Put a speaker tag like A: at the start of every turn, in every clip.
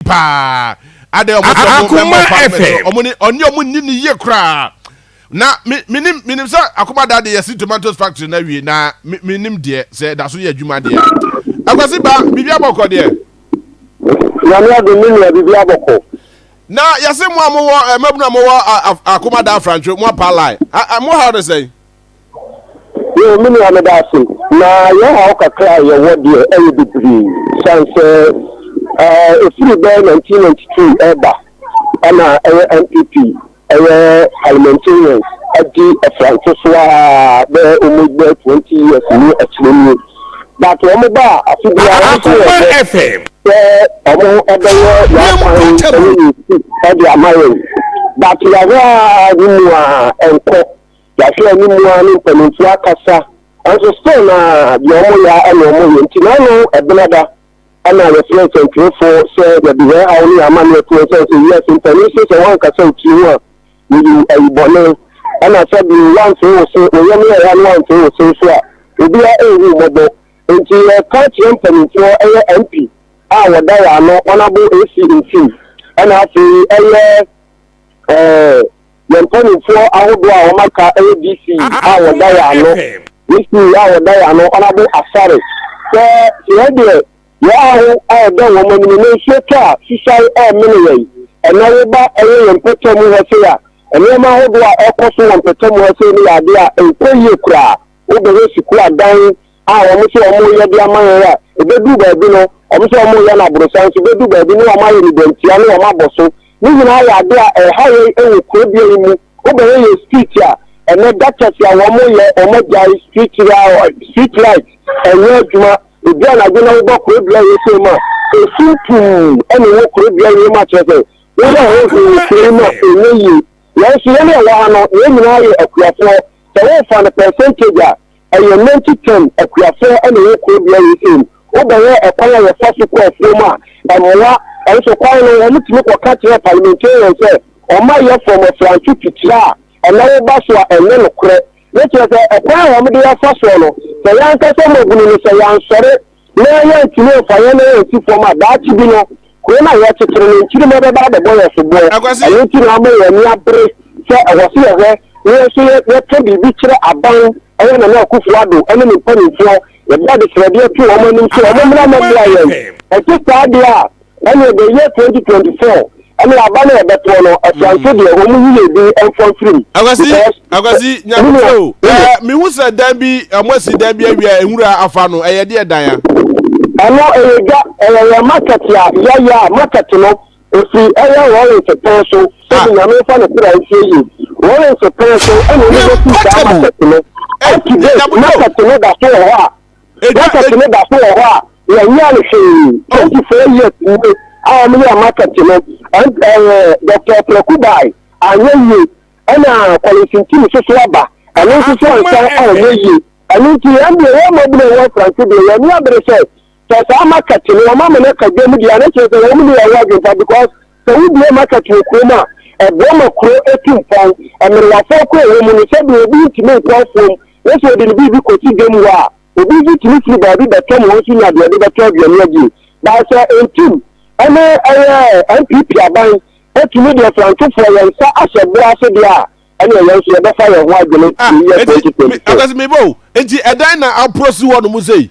A: paa adɛ ɔmo sɛ ɔmo bɛ mɔ pa mɛ sɛ ɔmo ni ɔni ɔmo ni ni yie koraa na mi mi nim mi nim sɛ akoma da de yɛsi tomatoes factory na wie na mi mi nim deɛ sɛ ɛda so yɛ adwuma deɛ a akwasi ba bibi abɔkɔ deɛ.
B: nyame adi mi nua bibi abɔkɔ. na yɛsi
A: mo a mo wɔ ɛmɛbunu eh, a mo wɔ akoma da afrantwe mo apalai mo ha ɔde sɛn.
B: Yɛwɔ me nua meda ase na yɛn haw kakra a yɛwɔ deɛ ɛyɛ bebree san sɛ ɛfiri bɛyɛ 1992 ɛreba ɛna ɛyɛ NPP ɛyɛ parliamentarians adi ɛfranse so a bɛyɛ almost bɛyɛ 20 years ni akyire nie but wɔn ba a afe biara nso yɛ bɛ sɛ wɔn ɛbɛyɛ yɛakwan ɛne yɛsi ɛde ama yɛn but yɛahwɛ a ne mu a ɛnkɔ Yɛahwɛ anim ara ne mpaninfoɔ akasa nanso still na deɛ ɔmo yɛ ara na ɔmo yɛ nti na ano ɛbenada ɛna yɛfrɛ nsɛntwerɛfoɔ sɛ yɛde yɛn haw ne yɛn amaneɛ to wɔn sɛn sɛ yes mpanin se sɛ woankasa wo tiri ho a woyɛ ayi bɔne ɛna sɛ deɛ woanfee wo se wo yam yɛɛya no woanfee wo se nso a obia ɛnhu mmɔbɔ nti yɛka kyerɛ mpaninfoɔ ɛyɛ MP a wɔda yɛ ano honourable AC Ntim ɛna afei ɛyɛ ɛɛ. yɛn mpanimfoɔ ahodoɔ a wɔaka yɛ DC a wɔda yɛn ano, DC a wɔda yɛn ano, Ɔnabo Asare, sɛ yɛn deɛ yɛn aho ayɛ dɛ wɔn anim na nsuo tɔ a susae remene yɛn. Ɛnnɛ woba yɛ yɛn mpɔtamu hɔ sei a, nneɛma ahodoɔ a ɛrekɔ so wɔ mpɔtamu hɔ sei no yɛ adeɛ a ɛnkɔ yie koraa. Wobɛhwɛ sukuu adan, a wɔn sɛ wɔn reyɛ de ama yɛn a ɛbɛduru baabi no wɔn sɛ wɔn reyɛ no aborosan nso bɛduru baabi ne wɔn ayɛ no dɔntia ne wɔn abɔ so ne nyinaa yɛ ade a ɛha yɛn wɔ kuro dua yi mu wobɛyɛ yɛ street a ɛnɛ gutters a wɔn yɛ wɔn agyae street street light ɛnyɛ adwuma ebi anadwo na wobɔ kuro dua yi sɛ mu a esu puu ɛna ɛwɔ kuro dua yi mu akyerɛ sɛ wobɛ ho ho wɔ kuro yi mu a ɛnyɛ yie yɛn nso yɛn a ɛwɔ ha no yɛn nyinaa yɛ akuafoɔ sɛ wɔfa no percentage a Ɛyɛ Nancy Chen akuapɔn na ɛwɔ kuro bea wei sei mu. Wobɛhwɛ ɛkwan a yɛfa so kɔ afuo mu a, ɛmmoa. Ɛnso kwan no, wɔtumi kɔka kyerɛ parliamentarian sɛ wɔmma yɛfɔm afranse titire a ɛna woba so a ɛnyɛ nokorɛ. Ne kyerɛ sɛ ɛkwan a wɔde yɛfa soɔ no, sɛ yɛn ankasa mmɔbunu no, sɛ yɛansɔre na yɛantumi amfa yɛn nan ansi fam a, daakye bi no, kuro no a yɛrekyekyere no, nkyirimma bɛba abɛbɔ yɛn soboɔ. Akwasi! Ɛno nti na ama yɛn ani abere sɛ ɛwɔ sɛ yɛhwɛ na yɛn nso yɛka biribi kyerɛ aban, ɛyɛ Nana Akufo-Addo ne ne mpanimfoɔ, yɛde adesrɛdeɛ to wɔn anim sɛ wɔmmra mmɛboa yɛn. Ɛte saa deɛ a, Ɛne the year 2024 ɛne aba no ɛbɛtoɔ no ɛtoa nso deɛ wɔn mu yie bi ɛmfa mfiri mu. Akwasi akwasi
A: nyakutu o ɛɛ mihu sɛ dan bi ɛmo asi dan bi awia nwura afa no ɛyɛ deɛ dan ya. Ɛno ɛyɛ dwa ɛyɛ yɛ market a yɛyɛ a market no efi ɛyɛ Lawrence pɛn so sɛbi nyame nfa ne sira esie yie Lawrence pɛn so ɛna ɛna ɛsi saa market no ɛti de market no da so wɔ hɔ a. Market no da so wɔ hɔ a yɛnyɛɛ no hwee. Twenty four years nie a wɔn yɛɛ market no, MP ɛɛ Doctor Ɔpraku bae, anyɛ yie. Ɛna Collins Ntim nso so aba, ɛno nso so ansan anyɛ yie. Ɛno nti yɛn deɛ yɛn mmɔbɔ na ɛwɔ Mfranse deɛ yɛn ani abere sɛ, sɛ saa market no wɔn ama no aka dwam deɛ a na kyerɛ sɛ wɔn ne yɛn wɔ adwempa because Sɛ wobue market wɔ kurom a, ɛboa ma kuro tu mpɔn. Mmerewafo akɔ a ɛwɔ mu no, sɛdeɛ obi ntumi nkɔ afuom na sɛ ɔde ne biribi kɔsi dwam hɔ a, obi nso tumi firi baabi bɛtɔm hɔ nso nya deɛ ɔde bɛtɔ aduane adie. Baasa ntim ne ɛyɛ NPP aban atumi deɛ frantofoɔ yɛn nsa ahyɛ boɔ ase deɛ a, ɛnna yɛn nso yɛbɛfa yɛn ho adwene ah, ne yɛ twenty twenty four. akasi mi bɔ o nti ɛdan na aporo si hɔ nom sɛ yi.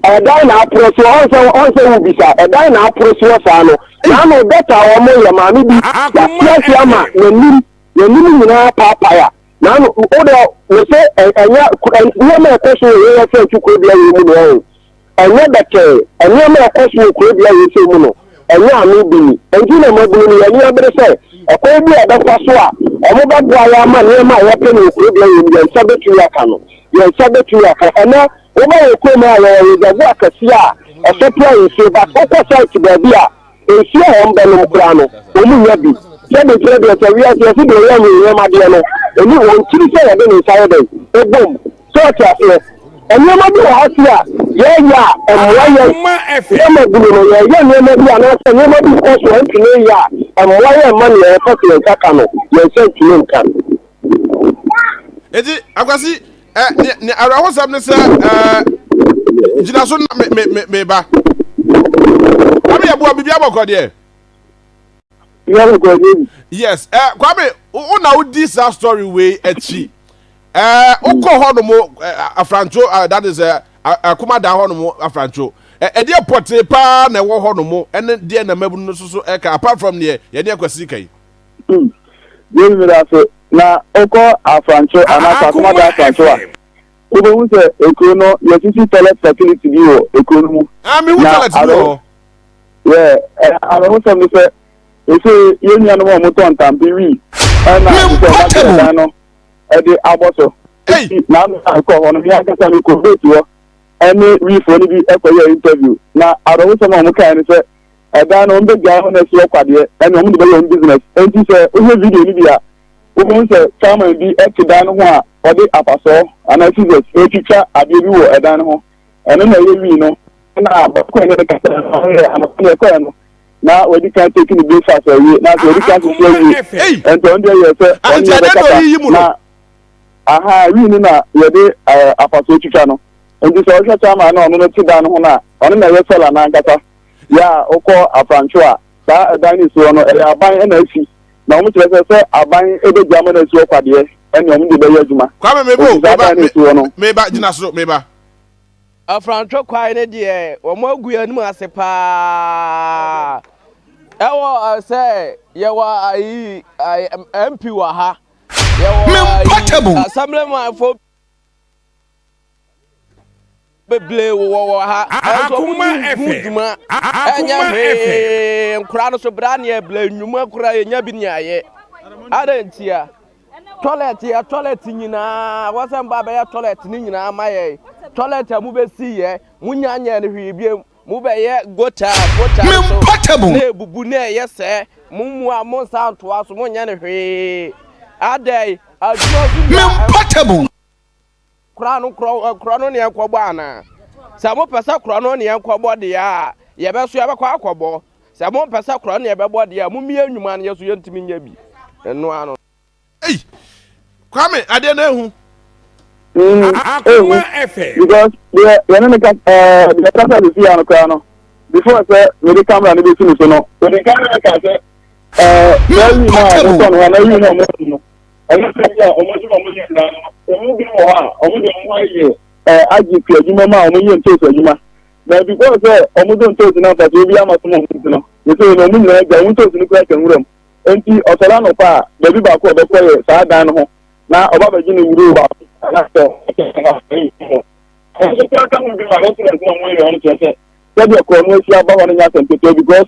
A: ɛdan na aporo si hɔ ɔnsɛ ɔnsɛ wo bisa ɛdan na aporo si hɔ saa no naanu dɔkta a wɔn yɛ maame bi yasiasi ama n'anim n'anim nyinaa paapaya naanu o de wɔsɛ ɛnyɛ nneɛma ɛkɔ so yɛ yɛ sɛ ɛtu kuro bi a yɛ mu na ɛyɛ. Ɛnyɛ bɛtɛɛ. Nneɛma a ɛkɔ so wɔ kuro bi a wɔsɛe mu no, ɛnyɛ ano bi ni. Enti na mmabunu no, yɛn ani abere sɛ ɛkwan bi a yɛbɛfa so a wɔbɛboa yɛn ama nneɛma a yɛpɛ no wɔ kuro bi a yɛwɔ mu no, yɛn nsa bɛtumi aka no. Yɛn nsa bɛtumi aka. Ɛnnɛ, woba yɛn kurom ha a, yɛwɔ reservoir kɛseɛ a ɛsupply nsuo, but wokɔ site baabi a, nsuo a wɔbɛnom koraa no, wɔnnya bi. Sɛdeɛ ɛteɛ deɛ, sɛ wiase, yɛse deɛ ɔyɛ anwonwam adeɛ no, ɛni wɔn tiri sɛ wɔde ne nsa yɛ dɛn? Ɛbom. So ɔte aseɛ? Nneɛma bi wɔ hɔ se a yɛyɛ a ɛmmoa yɛn. Akoma ɛfɛ. Yɛ ma bunu no yɛyɛ nneɛma bi anaasɛ nneɛma bi kɔ so a ntumi nyɛ a ɛmmoa yɛn mma nea yɛpɛ sɛ yɛn nsa ka no yɛn nsa ntumi nka. Eti akwasi ɛ ne ne awerɛhosɛm ne sɛ ɛɛ gyina so na me me me ba. Kwame yɛ boa bibi abɔkɔ deɛ. Yes, eh, Kwame, wo na wodi saa story wei akyi. ɛɛ eh, wokɔ mm. hɔ nom eh, afrantwo ah, that is eh, akoma da hɔ nom afrantwo ɛdeɛ pɔtee paa na ɛwɔ hɔ nom ɛne deɛ na mmabunu no so so ɛka apart from deɛ yɛne akwasi ka yi
B: mm. deɛ mmiri ase na wokɔ afrantwo ah, anaasɛ ah, akoma da afrantwo a wobɛhu sɛ ekuro no yɛsisi toilet facility bi wɔ ekuro no mu na aro
A: yɛ
B: arahosɛm no sɛ ɛsɛ yɛn nuanom a wɔtɔ ntampe wii ɛna sɛ wɔbɛtɛ dan no ɛde abɔ so. Eti n'ano a ɛkɔ hɔ no, me ankasa me kɔ vote hɔ ɛne wifoɔ no bi ɛkɔ yɛ interview. Na awerɛhosɛm a wɔn kae no sɛ ɛdan no wɔn bɛ gyae hɔ na ɛsi hɔ kwadeɛ ɛne wɔn de bɛyɛ wɔn business. Enti sɛ wohwɛ video no bi a, wobehu sɛ chairman bi ɛte dan no ho a ɔde apasɔɔ anaa scissors retwitwa adeɛ bi wɔ ɛdan no ho. ɛno na ɛyɛ wii no ɛna bɔkɔɛ ne kasa ɔyɛ anɔpa ne ɛkɔɛ no na wɔdi kan teki ne breakfast awie na sɛ wɔdi kan sisi awie ɛnti ɔno deɛ yɛ sɛ ɔno yɛ bɛkasa na aha wii no na yɛde ɛɛ afaso twitwa no nti sɛ ɔhwɛ saa ma na ɔno no ti dan no ho na ɔno na ɛyɛ sɛla n'ankasa yɛ a ɔkɔ afrantwo a saa ɛdan ne soɔ no ɛyɛ aban ɛna esi na wɔn kyerɛ sɛ sɛ aban bɛgya ama no asi hɔ kwa deɛ, ɛnneɛ wɔn de bɛyɛ adwuma. Kwame, me bo, me ba,
A: me, me ba, gyina soro, me ba. Afrantwe
C: kwae no deɛ wɔn agu yɛn anim ase paa ɛwɔ sɛ yɛwɔ ayi MP wɔ ha yɛwɔ ayi assemblyman fo. bebree wowɔ wɔ ha ɛnso ɔmo ni hu
D: dwuma
C: ɛnyɛ hwee nkora no so bra neɛ bla nnwuma kora yɛnya bi nea yɛ adɛ ntia toilet yɛ toilet nyinaa wɔsɛ mba bɛyɛ toilet ne nyinaa ma yɛ toilet a mo bɛsi yɛ mo nya nyɛ no hwee biem mo bɛyɛ gota gota no so na ebubu na ɛyɛ sɛ mo mua mo nsa ntoa so mo nyɛ no hwee adɛ adwuma so nya Kora no, kora, kora no ne ɛkɔbɔ anaa? Sɛ mopɛ sɛ kora no ne ɛkɔbɔ deɛ a, yɛbɛso yɛbɛkɔ akɔbɔ. Sɛ mompɛ sɛ kora no ne ɛbɛbɔ deɛ a, mommie nnwuma no, yɛ so yɛntumi nyɛ bi. Ɛno ano. Ei!
A: Kwame, adeɛ no ahu. Akoma
D: ɛfɛ. Because deɛ yɛne
B: no ka, ɛɛ, deɛ ɛkasa de si ha no koraa no, before sɛ mede camera no bɛsi no so no, ɔde ka ne me ka sɛ, ɛɛ, saa awi no a motɔ no hɔ, anaa awi no a moto no, Ɛno sɛ bi a wɔn adwuma a wɔn yɛ nnaa no, wɔn mu bi wɔ hɔ a wɔn de wɔn ayɛ ɛɛ IGP adwuma mu a wɔn yɛ ntoosi adwuma. Na before sɛ wɔn de ntoosi no mfasoɔ bi ama so ma wɔn ti no, yɛsɛ yɛ na wɔn nyinaa gya wɔn ntoosi no kura hyɛ nwura mu. Enti ɔsɔre anɔpa a, baabi baako a ɔbɛkɔ yɛ saa dan no ho na ɔba bɛgye ne wuro baako anaasɛ ɛno nso kura ka ho bi ma residents na wɔn yɛ wɔn kyerɛ sɛ sɛdeɛ korɔno ahyia aba hɔ no nyɛ asɛm ketewa because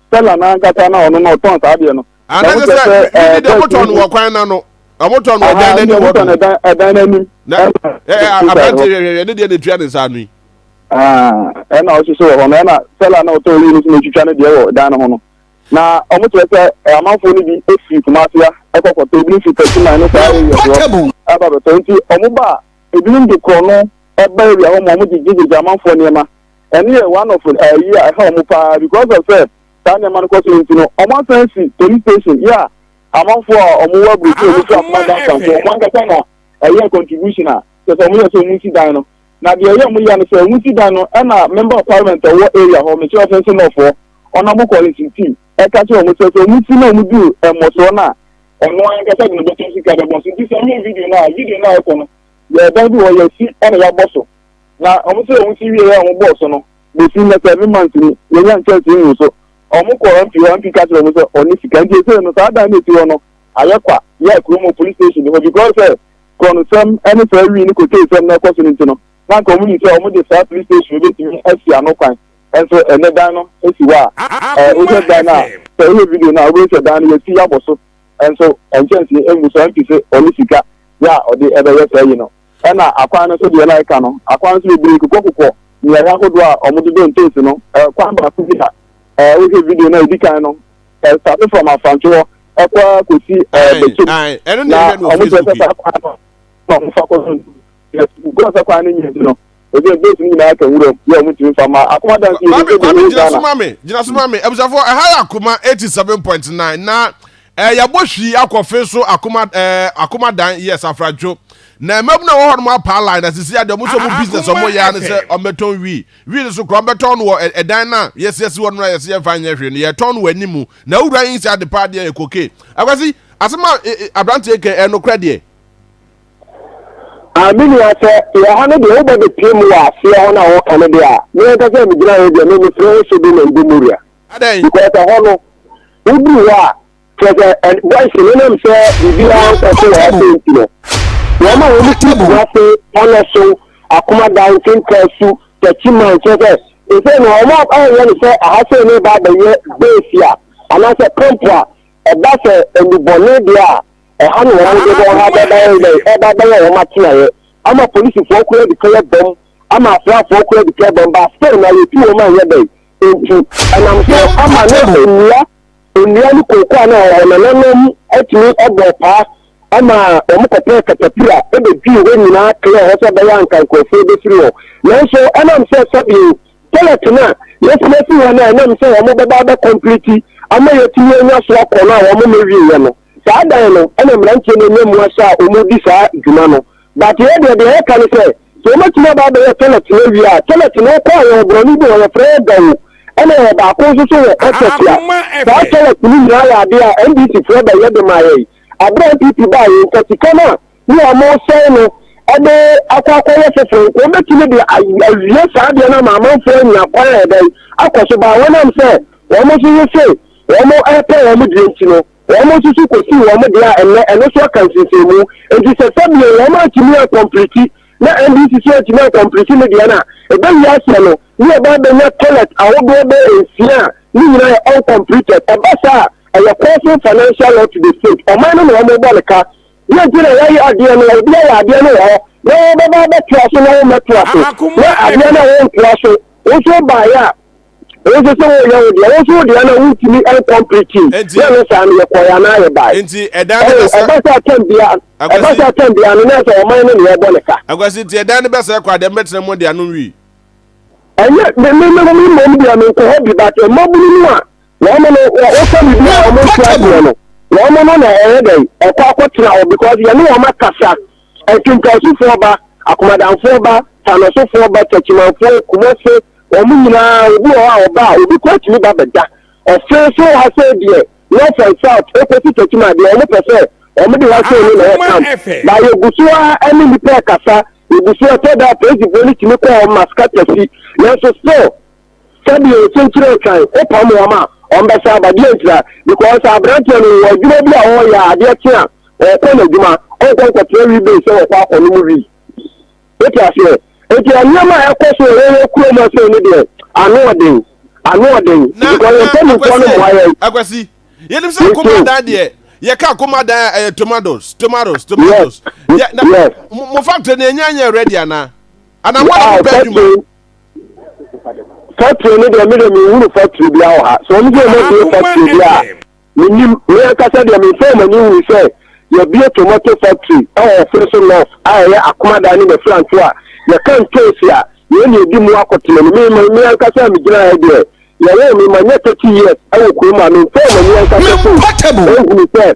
B: sɛla no ankasa na ɔno no ɔtɔn saa adeɛ no ah, na wokyɛ sɛ ɛɛ
A: bɛɛ tɔn no wɔ kwan na no wɔn tɔn no wɔ dan n'anim wɔ do ɛdan n'anim
B: na aberante
A: hwɛhwɛ ne deɛ na etua ne nsa ano yi.
B: ɛna ɔsoso wɔ hɔ no ɛna sɛla na ɔtɔn yi no so na etwitwa ne deɛ wɔ dan no ho no na wɔn kyerɛ sɛ amanfoɔ no bi efiri kumafia ɛkɔkɔtɔ ebi nfi pɛsiman ne saa ɛyɛ soɔ ɛba bɛtɔ nti wɔn ba ebinom de korɔ no ɛba ewia hɔ ma wɔn gyegye gyegye amanfoɔ nneɛma. ɛno yɛ one of ayi a ɛha wɔn paa because of sɛ saa nneɛma no kɔ so nti no wɔn asan si police station yɛ a amanfo a wɔn wɔ aburokyire wɔn fira kuma dan sanfo wɔn ankasa na ɛyɛ contribution a kyɛ sɛ wɔn yɛ sɛ wɔn si dan no na deɛ ɛyɛ wɔn yɛ no sɛ wɔn si dan no ɛna member of parliament a ɔwɔ area hɔ mekyerɛ ɔfɛn so nɔfoɔ ɔnam kɔle si ti ɛka kyerɛ wɔn sɛ sɛ wɔn si na wɔn du mmɔsoɔ no a ɔno ankasa de ne bɛtɔ sika bɛbɔ so nti sɛ wɔn yɛ video no a video no a ɛkɔ no yɛ dan bi wɔ yɛ si ɛna yɛabɔ so. na wɔn sɛ wɔn si wie yɛ wɔn bɔɔso no bɛsi nnɛ sɛ me ma ntumi yɛnya nkyɛnsee mu so wɔn kɔ MP hɔ MP ka kyerɛ wɔn sɛ ɔne sika nti ɛsɛ no saa dan no ɛsi hɔ no ayɛ kwa yɛ kuro mu police station hɔ because sɛ kɔnsɛm ɛne saa wii ne kotee sɛm na ɛkɔ so no nti no na nka wɔn ni sɛ wɔn de saa police station bɛtumi asi ano kwan ɛnso ɛnɛ dan no ɛsi hɔ a ɛɛ wohwɛ dan no a sɛ wohwɛ video no a wobɛhu sɛ dan no yɛsi yɛabɔ so ɛnso nkyɛnsee ɛmu so MP sɛ ɔne sika yɛ a ɔde ɛbɛyɛ saa yi no. Ɛna akwan no so deɛ na ɛka no, akwan no so bebree kokɔ kokɔ mmeaeɛ ahodoɔ a wɔde dɔ ntoosi no. Kwan baako bi a wohwɛ video no a ɛdi kan no, ɛstate from Afantwe hɔ ɛkɔ ara kɔsi Bɛkyem. Na
A: wɔkyerɛ sɛ saa kwan no na wɔfa kɔ
B: so ntoosi. Yes, because sɛ kwan no nyɛ nti no. Ɔde ne bɔs no nyinaa aka nwuram yɛ ɔmo ntumi nfa ma akoma dan fie Maame Kwame gyina so ma me
A: gyina so ma me abusuafoɔ ɛha yɛ akoma eighty seven point nine na ɛɛ eh, yɛabɔ hwii akɔ fe so akoma ɛɛ eh, akoma dan yɛ safradwo na mmabunu a wɔhɔ nom apaa line na sisi adeɛ ɔmo nso ɔmo business ɔmo yɛ ano sɛ ɔmo bɛtɔn wii wii no so kura ɔmo bɛtɔn no wɔ ɛdan na yɛsi ɛsi hɔ nom na yɛsi yɛn fa nyɛ hwee no yɛtɔn no wɔ anim na ewura yi nsi ade paa deɛ yɛ koke akwasi asɛm a aberanteɛ kɛ ɛnokora deɛ. Ah,
B: me nua, sɛ yɛwɔ ha no deɛ, wo bɛ bɛ pie mu wɔ aseɛ hɔ no a wɔka no deɛ a, me ankasa a me gyina hɔ deɛ, me me frɛ hɔ Sodom and Gomorrah. Adɛn? Because
A: ɛhɔ no,
B: wo duru hɔ a, kyerɛ sɛ, ɛ, boys no nam sɛ biribiara nkɔ so wɔ hɔ sɛ nti no, wɔn a wɔn ti gu ase, pɔnɔ so, akoma dan, nkenka su, tɛkyi man, kyerɛ sɛ, ɛsɛ na wɔn a ɛyɛ no sɛ aha sɛ ne ba abɛyɛ base a, anaasɛ camp a, ɛba sɛ nnubɔne deɛ a, Ɛha na wɔn de wɔn ha bɛba yɛ dɛ ɛba bɛyɛ wɔn atenaeɛ ama polisifoɔ kora adi kan abam ama asraafoɔ kora adi kan abam ba still na yɛtu wɔn a ɛnyɛ dɛn nti ɛnam so ama ne nnua nnua ne kooko a na ɛwɔ hɔ no nananom atumi abɔ paa ama wɔn kɔpɛɛ katapira ɛbɛdwii hɔ nyinaa kɛɛ hɔ sɛ bɛyɛ anka nkurɔfoɔ bɛfiri hɔ nanso ɛnam sɛ sɛbio toilet no a yɛsiesie hɔ no a ɛnam sɛ wɔn bɛba bɛkɔmpliti ama yɛtumi anya so akɔ no a wɔn mɛwieɛ no Saa dan no na mmeranteɛ no nya mu asa a wɔdi saa dwuma no. But yɛ deɛ, deɛ yɛka ne sɛ, sɛ wɔatumi aba abɛyɛ toilet no awie a, toilet no wokɔ a yɛwɔ borɔno bi wɔ hɔ yɛfrɛ no Gawo ɛna yɛwɔ baako nso so wɔ Ɔtɛkwa. Ahoma Saa ɛfɛ. toilet no nyinaa yɛ adeɛ a NDC foɔ bɛyɛ de maa yɛn. Aberɛ a NPP baa yei nka sika no a ne a wɔresɛe no de akɔ akɔyɛ foforɔ nka wɔbɛtumi de ay awie saa adeɛ no ama amanfoɔ anya kwan a ɛdɛn akɔ so but wɔnam sɛ wɔn nso yese wɔn repɛ wɔn deɛ nti no Wɔn nso so kosii wɔn deɛ a ɛnnɛ ɛno nso aka nsensɛnmu. Enti sɛ sɛbio wɔn antumi ankɔmpliti na NDC nso antumi ankɔmpliti ne deɛ no a, ɛbɛwie aseɛ no ne yɛba abɛnya toilet ahodoɔ bɛyɛ nsia a ne nyinaa yɛ uncompleted. Ɛba saa a, ɛyɛ causing financial loss to the state. Ɔman no na wɔbɔ no ka. Deɛ nti na wɔyɛ adeɛ no, obi ayɛ adeɛ no wɔ hɔ na wobɛba abɛtoa so na wommɛtoa so na adeɛ no a wontoa so wo nso wobaeɛ a, Wo nso sɛ woyɛ wo deɛ, wo nso wo deɛ na wontumi ɛnkɔmplete. Nti. Yɛ no saa no yɛkɔɛ anaa yɛbae. Nti ɛdan no bɛsɛ. Ɛba
A: sɛ atɛm bia, ɛba
B: sɛ atɛm bia no na sɛ ɔman no na yɛbɔ ne ka. Akwasi nti ɛdan no bɛsɛ
A: kɔ a deɛ mbɛtena mu deɛ ano nwii. Ɛnyɛ
B: me me me me mmom deɛ me nkɔ hɔ bi but mmabunu no a wɔn no wɔka bibi a wɔn nti adeɛ no wɔn no na ɛyɛ dɛ ɛkɔ akɔtena hɔ because yɛne wɔn akasa. Akinkansufoɔ ba, Akomadanfoɔ ba, Tanosofoɔ ba, Takyimanfoɔ, Kumase, wɔn nyinaa obi wɔ hɔ a ɔba a obi koraa tumi ba bɛda. Ɔfee so wɔ ha sei deɛ North and South ɛkɔsi Takyima deɛ wɔn pɛ sɛ wɔn de ha sei no na ɛyɛ camp. Ba yɛgu so ara ɛne nnipa ɛkasa, yɛgu so ɛtɔ da a Polisifoɔ no tumi kɔ hɔ Maskatasi nanso still. Sɛdeɛ ɔsi nkyerɛ twan wo pam wɔn a wɔn bɛsa aba deɛ ntira because abranteɛ no ɔwɔ adwuma bi a ɔreyɛ a adeɛ kye a ɔkɔ n'adwuma ɔnkɔ nkɔtena wii base sɛ ɔkɔ akɔ nom wii wote aseɛ nti nneɛma a ɛkɔ so ɛwɔ wɔ kurom ɔsɛ ne deɛ ano ɔden ano ɔden because yɛn mpanimfoɔ no mmoa yɛn akwasi yɛnim
A: sɛ akoma dan deɛ yɛka akoma dan a ɛyɛ tomatoes tomatoes tomatoes yes. mo factory no ɛnya nyɛ ready anaa anaa mo a mo bɛ adwuma Factory
B: no deɛ me deɛ menhunu factory bia wɔ ha sɛ ɔmo sɛ ɔmo abie factory bi a menim me ankasa deɛ menfa ɔmo ani hui sɛ yɛbie tomato factory ɛwɔ ɔfere so north a ɛyɛ akomadan ne mɛfiranto a yɛka ntoosi a yɛn ne ɛdi mu akɔtena no me me ankasa a megyina ha deɛ yɛwɔ me ma nyɛ thirty years ɛwɔ kurom a menfa ɔmo ani ankasa so ɛhunu sɛ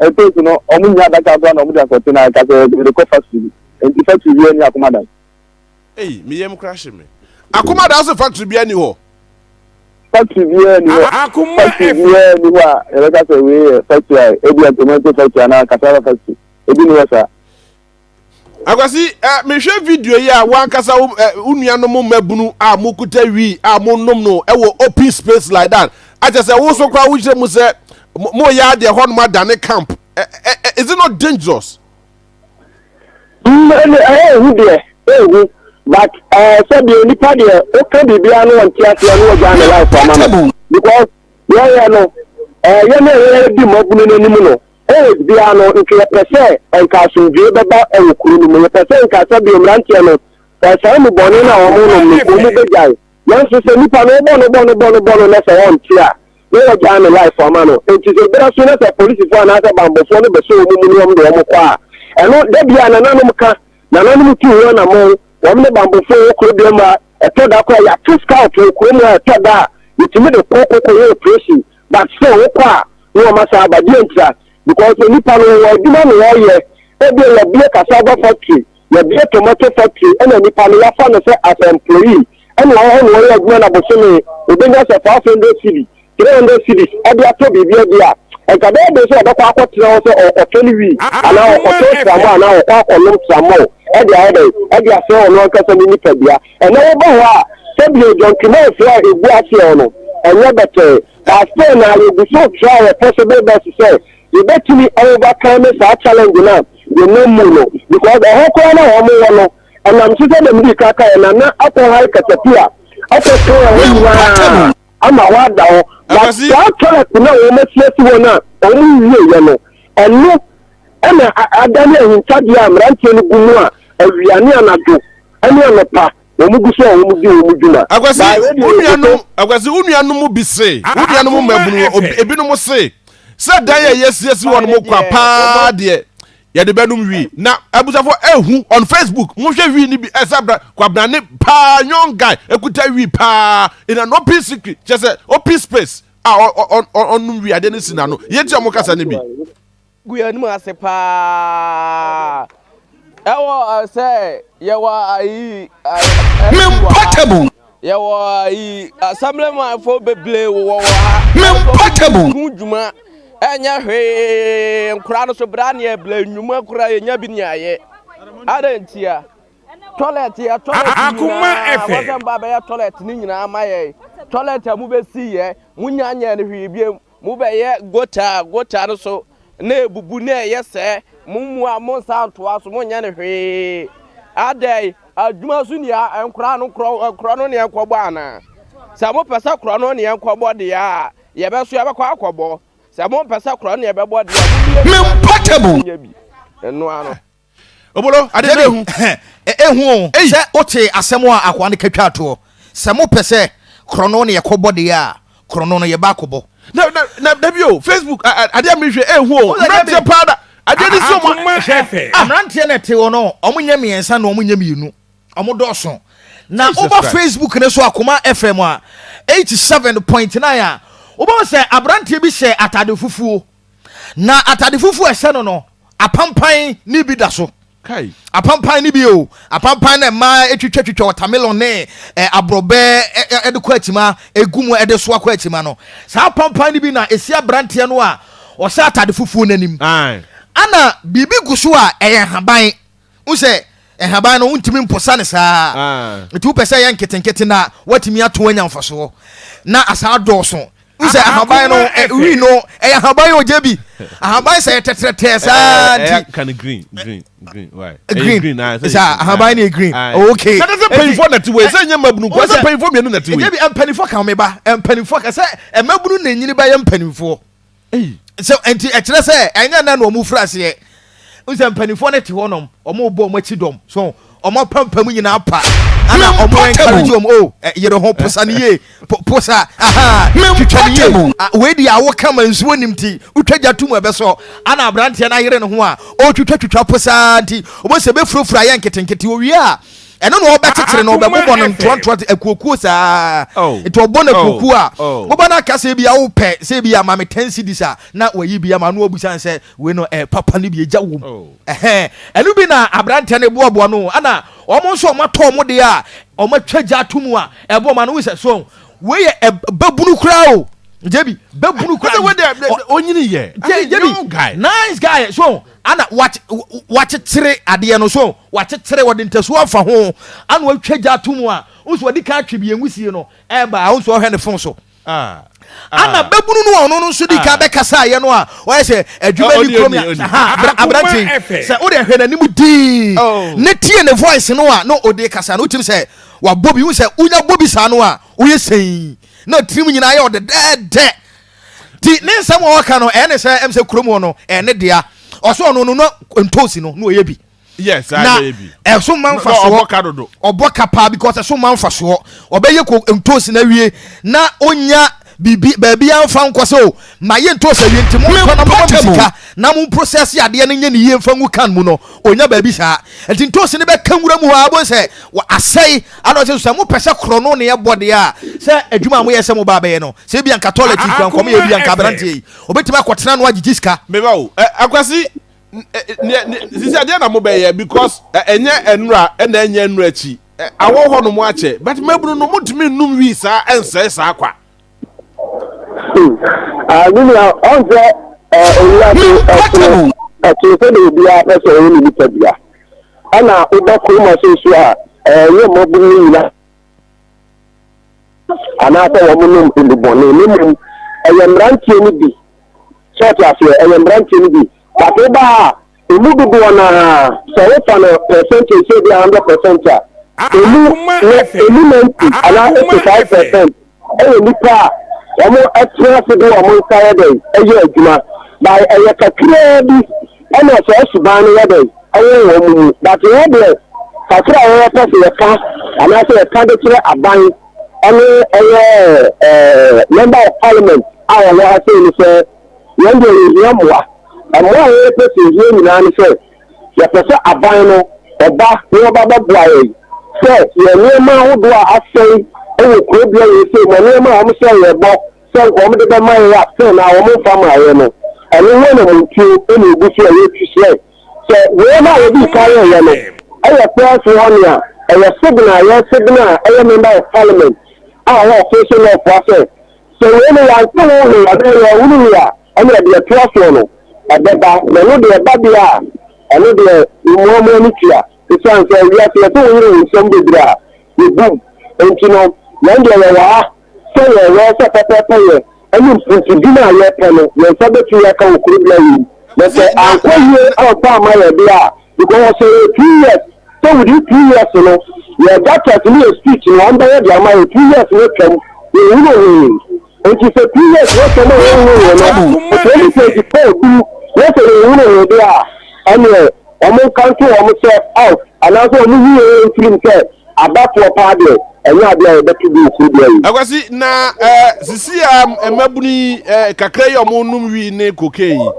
B: Ɛtɔ su no, wɔnnya adaka koraa na wɔde akɔte na ɛka sɛ wɔde rekɔ factory bi. Enti factory biara nni Akomadan. Ei, me
A: yam kora hye me. Akomadan so factory biara nni hɔ? Factory
B: biara nni hɔ. Factory biara nni hɔ a yɛbɛka sɛ wei yɛ factory a ebia tomato factory anaa cassava factory. Ebi nni hɔ saa.
A: Akwasi, eh, mehwɛ video yi a wankasa wo eh, nuanom mmabunu a mokuta wi a monom no ɛwɔ open space like that. Akyɛ sɛ wo so koraa wohyɛ mu sɛ moyɛ adeɛ hɔnom adane camp. Eh, eh, eh, is it not dangerous? Mm,
B: ɛne ɛyɛ ehu deɛ, ehu. But eh, sɛ deɛ nipa deɛ woka biribiara no wɔnte aseɛ no wɔgyaa ne life ama no. Because yɛyɛ no, eh, yɛne yɛyɛ di mmabunu no anim no, Always biara no nka yɛpɛ sɛ nka asomdwoe bɛba wɔ kuro no mu, yɛpɛ sɛ nka sɛ bio mmeranteɛ no saa mu bɔne no a wɔn nom no wɔn mu bɛgyae. Nanso sɛ nipa no wobɔ no bɔ no bɔ no bɔ no na sɛ ɔnte a na wɔagyae no life ama no. Enti sɛ bere so na sɛ polisifoɔ anaasɛ bammɔfoɔ no bɛsɔ wɔn mu ne wɔn de wɔn kɔ a, ɛno da bi a nananom ka, nananom tu ho anammɔn, wɔn ne bammɔfoɔ wɔ kuro biara mu a ɛtɔ da koraa yɛate scout wɔ kuro mu a ɛtɔ da a yɛtumi de kɔ kɔkɔyɛ operation but still wo kɔ a ne wɔn asan aba deɛ ntira because onipa no wɔwɔ adwuma na wɔyɛ ebia yɛbie cassava factory yɛbie tomato factory ɛna nipa no yafa no sɛ as employee ɛna wɔn hɔ na wɔyɛ adwuma na bosome obenya sɛ five hundred cedi three hundred cedis ɛde atɔ biribi ɛde a nka bɛyɛ de sɛ ɔbɛkɔ akɔ tena hɔ sɛ ɔkɔtɔ ne wii anaa ɔkɔtɔ tramɔ anaa ɔkɔ akɔnom tramɔ ɛde ayɛ dɛ ɛde asɛ ɔno ankasa ne nipadua. Ɛnɛ woba hɔ a, sɛdeɛ John Kemans a ɛgu aseɛ hɔ no, ɛnyɛ bɛtɛɛ. But still na yɛgu so try yɛ possible best sɛ yɛbɛtumi a overcome saa challenge no a yɛnam mu no. Because ɛhɔ koraa no a wɔn wɔ no, ɛnam so sɛdeɛ medii kan kaeɛ no, Nana akɔ hire katapila akɔ kan ɛhɔ nyinaa ama hɔ ada hɔ. But saa track no a wɔn asi asi hɔ no a wɔn nwieeɛ no, ɛno na adane ahintadeɛ a mmeranteɛ no gu mu a awia ne anadwo Ɛne anɔpa, wɔn gu so a wɔn di wɔn dwuma. Akwasi, wo nuanom,
A: Akwasi, wo nuanom bi se, wo nuanom mmabunu, ebinom se, sɛ dan a yɛasiesie hɔ nom kwa paa deɛ, yɛde bɛnom wi. Na abusafo ehu on Facebook, mohwɛ wi no bi, ɛsɛ abra, kwabrane paa, young guy, ekuta wi paa in an open secret, kyerɛ sɛ open space, a ɔnom wi, adeɛ no si n'ano. Yɛntie wɔn kasa no bi. Gu yɛn
C: anim ase paa. Ɛwɔ sɛ yɛwɔ ayi. Mem
D: Portable. Yɛwɔ
C: ayi asɛmlɛmanfo bebree wɔ wɔ ha. Mem Portable. Hu
D: dwuma
C: ɛnyɛ hwee nkora no so bra ne ɛbla nnwuma kora yɛnya bi ne ayɛ. Adɛn ntia? Toilet yɛ toilet
D: nyinaa wɔsɛ mba bɛyɛ toilet
C: ne nyinaa ma yɛn. Toilet a mobɛsi yɛ monya nyɛ no hwee biam. Mobɛyɛ gota a gota no so na abubu na ɛyɛ sɛɛ. Mo mmoa, monnsan ntoa so, monnyɛ no hwee. Adɛn, adwuma so ni a, nkora no, korɔno ne yɛnkɔbɔ anaa? Sɛ mopɛ sɛ korɔno ne yɛnkɔbɔ deɛ a, yɛbɛso yɛbɛkɔ akɔbɔ. Sɛ mompɛ sɛ korɔno ne yɛbɛbɔ deɛ a, momie bi mma yɛn na yɛnya
D: bi nnoa
C: no. Obolo,
A: ade no ehu. Ehu
D: o, sɛ wotee asɛm a akoa no ka twaa toɔ, sɛ mopɛ sɛ korɔno ne yɛkɔbɔ deɛ a, korɔno no yɛba akɔbɔ. Na, na, na da bi
A: o, Facebook, a, a, adeɛ a merehwɛ, ehu o, mmeranteɛ paa da, adeɛ no si wɔn a, hwɛ, ah. Mmeranteɛ na
D: ɛte hɔ no, wɔnyɛ mmiɛnsa na wɔnyɛ mmienu, wɔdɔɔso. Na woba Facebook no so Akoma FM a, 87.9 a, wobɛhu sɛ aberanteɛ bi hyɛ atade fufuo. Na atade fufuo a ɛhyɛ no no, apampan ne bi da so. Kai. Apampan
A: ne bi
D: o, apampan na mmaa atwitwa twitwa watermelon ne ɛ eh, aborɔbɛ ɛde eh, eh, kɔ akyima, egu mu ɛde so akɔ akyima no. Saa apampan ne bi na esi aberanteɛ no a ɔhyɛ atade fufuo n'anim. Ana biribi gu so a ɛyɛ haban. Wohu sɛ nhaban no wontumi mposa no saa. Nti wopɛ sɛ yɛ nketenkete na woatumi ato anya mfasoɔ na asaa dɔɔso. Wohu sɛ ahaban no wi no ɛyɛ ahaban yɛ ogya bi. Ahaban sɛ yɛtɛtrɛtɛɛ saa nti. Ka no green green green
A: why? Green
D: saa ahaban no yɛ green. Okay. Sɛ sɛ mpanyinfoɔ na ti
A: wɔ ɛsɛ nyɛ mmabunu kɔ sɛ mpanyinfoɔ mmienu na ti wɔ. Ɛgye bi mpanyinfoɔ ka wɔn ba
D: mpanyinfoɔ ka sɛ mmabunu na enyini bɛyɛ mpanyinfoɔ. so nti ɛkyerɛ sɛ ɛnyɛ nna na wɔn firi aseɛ nsɛ mpanimfoɔ no te hɔ nom wɔn bɔ wɔn akyi dɔm so wɔn apampam nyinaa pa ana wɔn encourage wɔn o yere ho posa ne yie posa aha twitwa ne yie wei di awo kama nsuo nim ti wotwa gya tum ɛbɛsɔ ana aberanteɛ no ayere ne ho a ɔtwitwa twitwa posa nti wɔn sɛ bɛfurafura yɛ nketenkete owie a ɛno na ɔbɛkyekyere no ɔbɛbobɔ no ntoantoa te akuokuo saa oh. nti ɔbɔ no oh. akuokuo a oh. wobɛ no aka sɛ bi a wopɛ sɛ bi a ma me ten cedis a na wayi bi ama no abusan sɛ wei no eh, papa no bi agya wom ɛhɛn ɛno bi na aberantɛ no boaboa no ana wɔn nso wɔn atɔ wɔn deɛ a wɔn atwa gya ato mu a ɛbɔ ma no wosɛ so wei yɛ ɛbɛbunu koraa o jẹbi bẹẹ buru kura yi onyini
A: yẹ jẹbi nice
D: guy so Ana wakyekyere adeɛ no so wakyekyere wɔde ntasuo afa ho ana watwa gya ato mu a wohu sɛ wɔde ka atwe bie nwisie no ɛreba a wohu sɛ ɔhwɛ ne fon so ana bɛbunu no a ɔno no nso di ka bɛkasaeɛ no a ɔyɛ sɛ adwuma ni kurom aberante sɛ wode hwɛ n'anim dii ne tie ne voice no a na ɔde kasa no wotim sɛ wabɔ bi wohu sɛ wonya bɔ bi saa no a woyɛ sɛi na tirim nyinaa yɛ ɔdedɛɛdɛ Nti ne nsɛm a ɔka no ɛyɛ ne sɛ ɛm sɛ kurom hɔ no ɛyɛ ne dea ɔsɛ ɔno no na ntoosi no na ɔyɛ bi yes na
A: ɛso ma mfasoɔ
D: ɔbɔ ka paa because ɛso ma mfasoɔ ɔbɛyɛ ko ntoosi no awie na ɔnya biribi baabi amfa nkɔ sɛ o ma yɛ ntoosi awie nti mo nkɔ na mo ma sika na mo process adeɛ no nyɛ ne yie mfa ngu kan mu no Ɔnya baabi saa. Nti ntoosi no bɛka nwura mu hɔ ara wobɛhu sɛ asɛe ana ɔsɛ sɛ mopɛ sɛ korɔno ne ɛbɔ deɛ a sɛ adwuma a moyɛ sɛ mo ba bɛyɛ no sɛ ebia nka toilet yi kura nkɔmyɛ ebia nka aberanteɛ yi ɔbɛtumi akɔtena no agyegye sika. Meba o.
A: Akwasi sisi adeɛ na mobɛyɛ because ɛnyɛ ɛnura ɛna ɛnyɛ ɛnura akyi awɔ hɔ nom akyɛ but mabunu no motumi nnum wii saa ɛnsɛe saa kwa.
B: Me nua ɔnsɛ owura de ɛtoro ɛtoro sɛ de obiara pɛ sɛ ɔyɛ ne nipa bia ɛna woba kurom ase nso a ɛyɛ mmɔboro no nyina anaasɛ wɔn nom nnubɔne ne mmom ɛyɛ mmeranteɛ no bi sɛ ɔte aseɛ ɛyɛ mmeranteɛ no bi bato ba a Emu dodoɔ no ara, sɛ wofa no percentage sɛ ebia hundred percent a, emu na emu ninety anaa eighty five percent yɛ nnipa a wɔtena ase de wɔn nsa yɛ dɛn yɛ adwuma, but ɛyɛ kakraa bi na saa suban no yɛ dɛn wɔ wɔn mu. But yɛn deɛ, kakra a yɛpɛ sɛ yɛka anaasɛ yɛka de kyerɛ aban ne ɛyɛ ɛɛ Member of Parliament a wɔwɔ ha sei ne sɛ, Yɛn deɛ yɛhia mmoa. Mmoa a yɛn pɛ sɛ yɛhia nyinaa ne sɛ yɛpɛ sɛ aban no ba na wɔba bɛboa yɛn sɛ yɛn nneɛma ahodoɔ a asɛe wɔ kuro bea wei sei mu, nneɛma a wɔn hyɛɛ yɛn bɔ sɛ nka wɔn de bɛma yɛn a sɛ na wɔn mfa mmaa yɛn no, ɛno ho anamontuo na ɛgu so a yɛtu srɛ sɛ wei no a wɔdii kan yɛɛyɛ no yɛ prɛɛso hɔ nea ɛyɛ signal a yɛsignal a ɛyɛ member of parliament a ɔwɔ official lɔfoa sɛ Sɛ wei no yɛanhyɛ wo he adaa na woahunu he a, ɛnneɛ deɛ ɛtoa soɔ no, ɛbɛba. Na ɛno deɛ ɛba deɛ a, ɛno deɛ mmoa mo ani tua. Esiane sɛ wiase yɛse wo yere wo nsɛm bebree a, yɛbom. Nti no, yɛn deɛ yɛwɔ ha sɛ yɛwɛɛ sɛ pɛpɛɛpɛyɛ ne mpuntudim a yɛpɛ no, yɛn nsa betumi aka wɔ kuro bea wei. Na sɛ ankɔ yie amfa amma yɛn deɛ a, Because ɔsɛ yɛ two years sɛ within two years no yɛ da test ne yɛ speech no wɔn bɛyɛ de ama yɛ two years no atwam yɛn hunu hwee nti sɛ two years no atwam a yɛn hunu hwee no for twenty twenty four duru na sɛ yɛn hunu hwee deɛ a ɛneɛ wɔn nka nto wɔn sɛ out anaasɛ wɔn yi yɛn yɛn tirim sɛ abatoɔ paa deɛ ɛnyɛ adeɛ a yɛbɛto bi okuru deɛ yi. Akwasi na
A: ɛɛ sisi a mmabunu yi ɛɛ kakra yi a wɔn nom wii ne cocaine yi.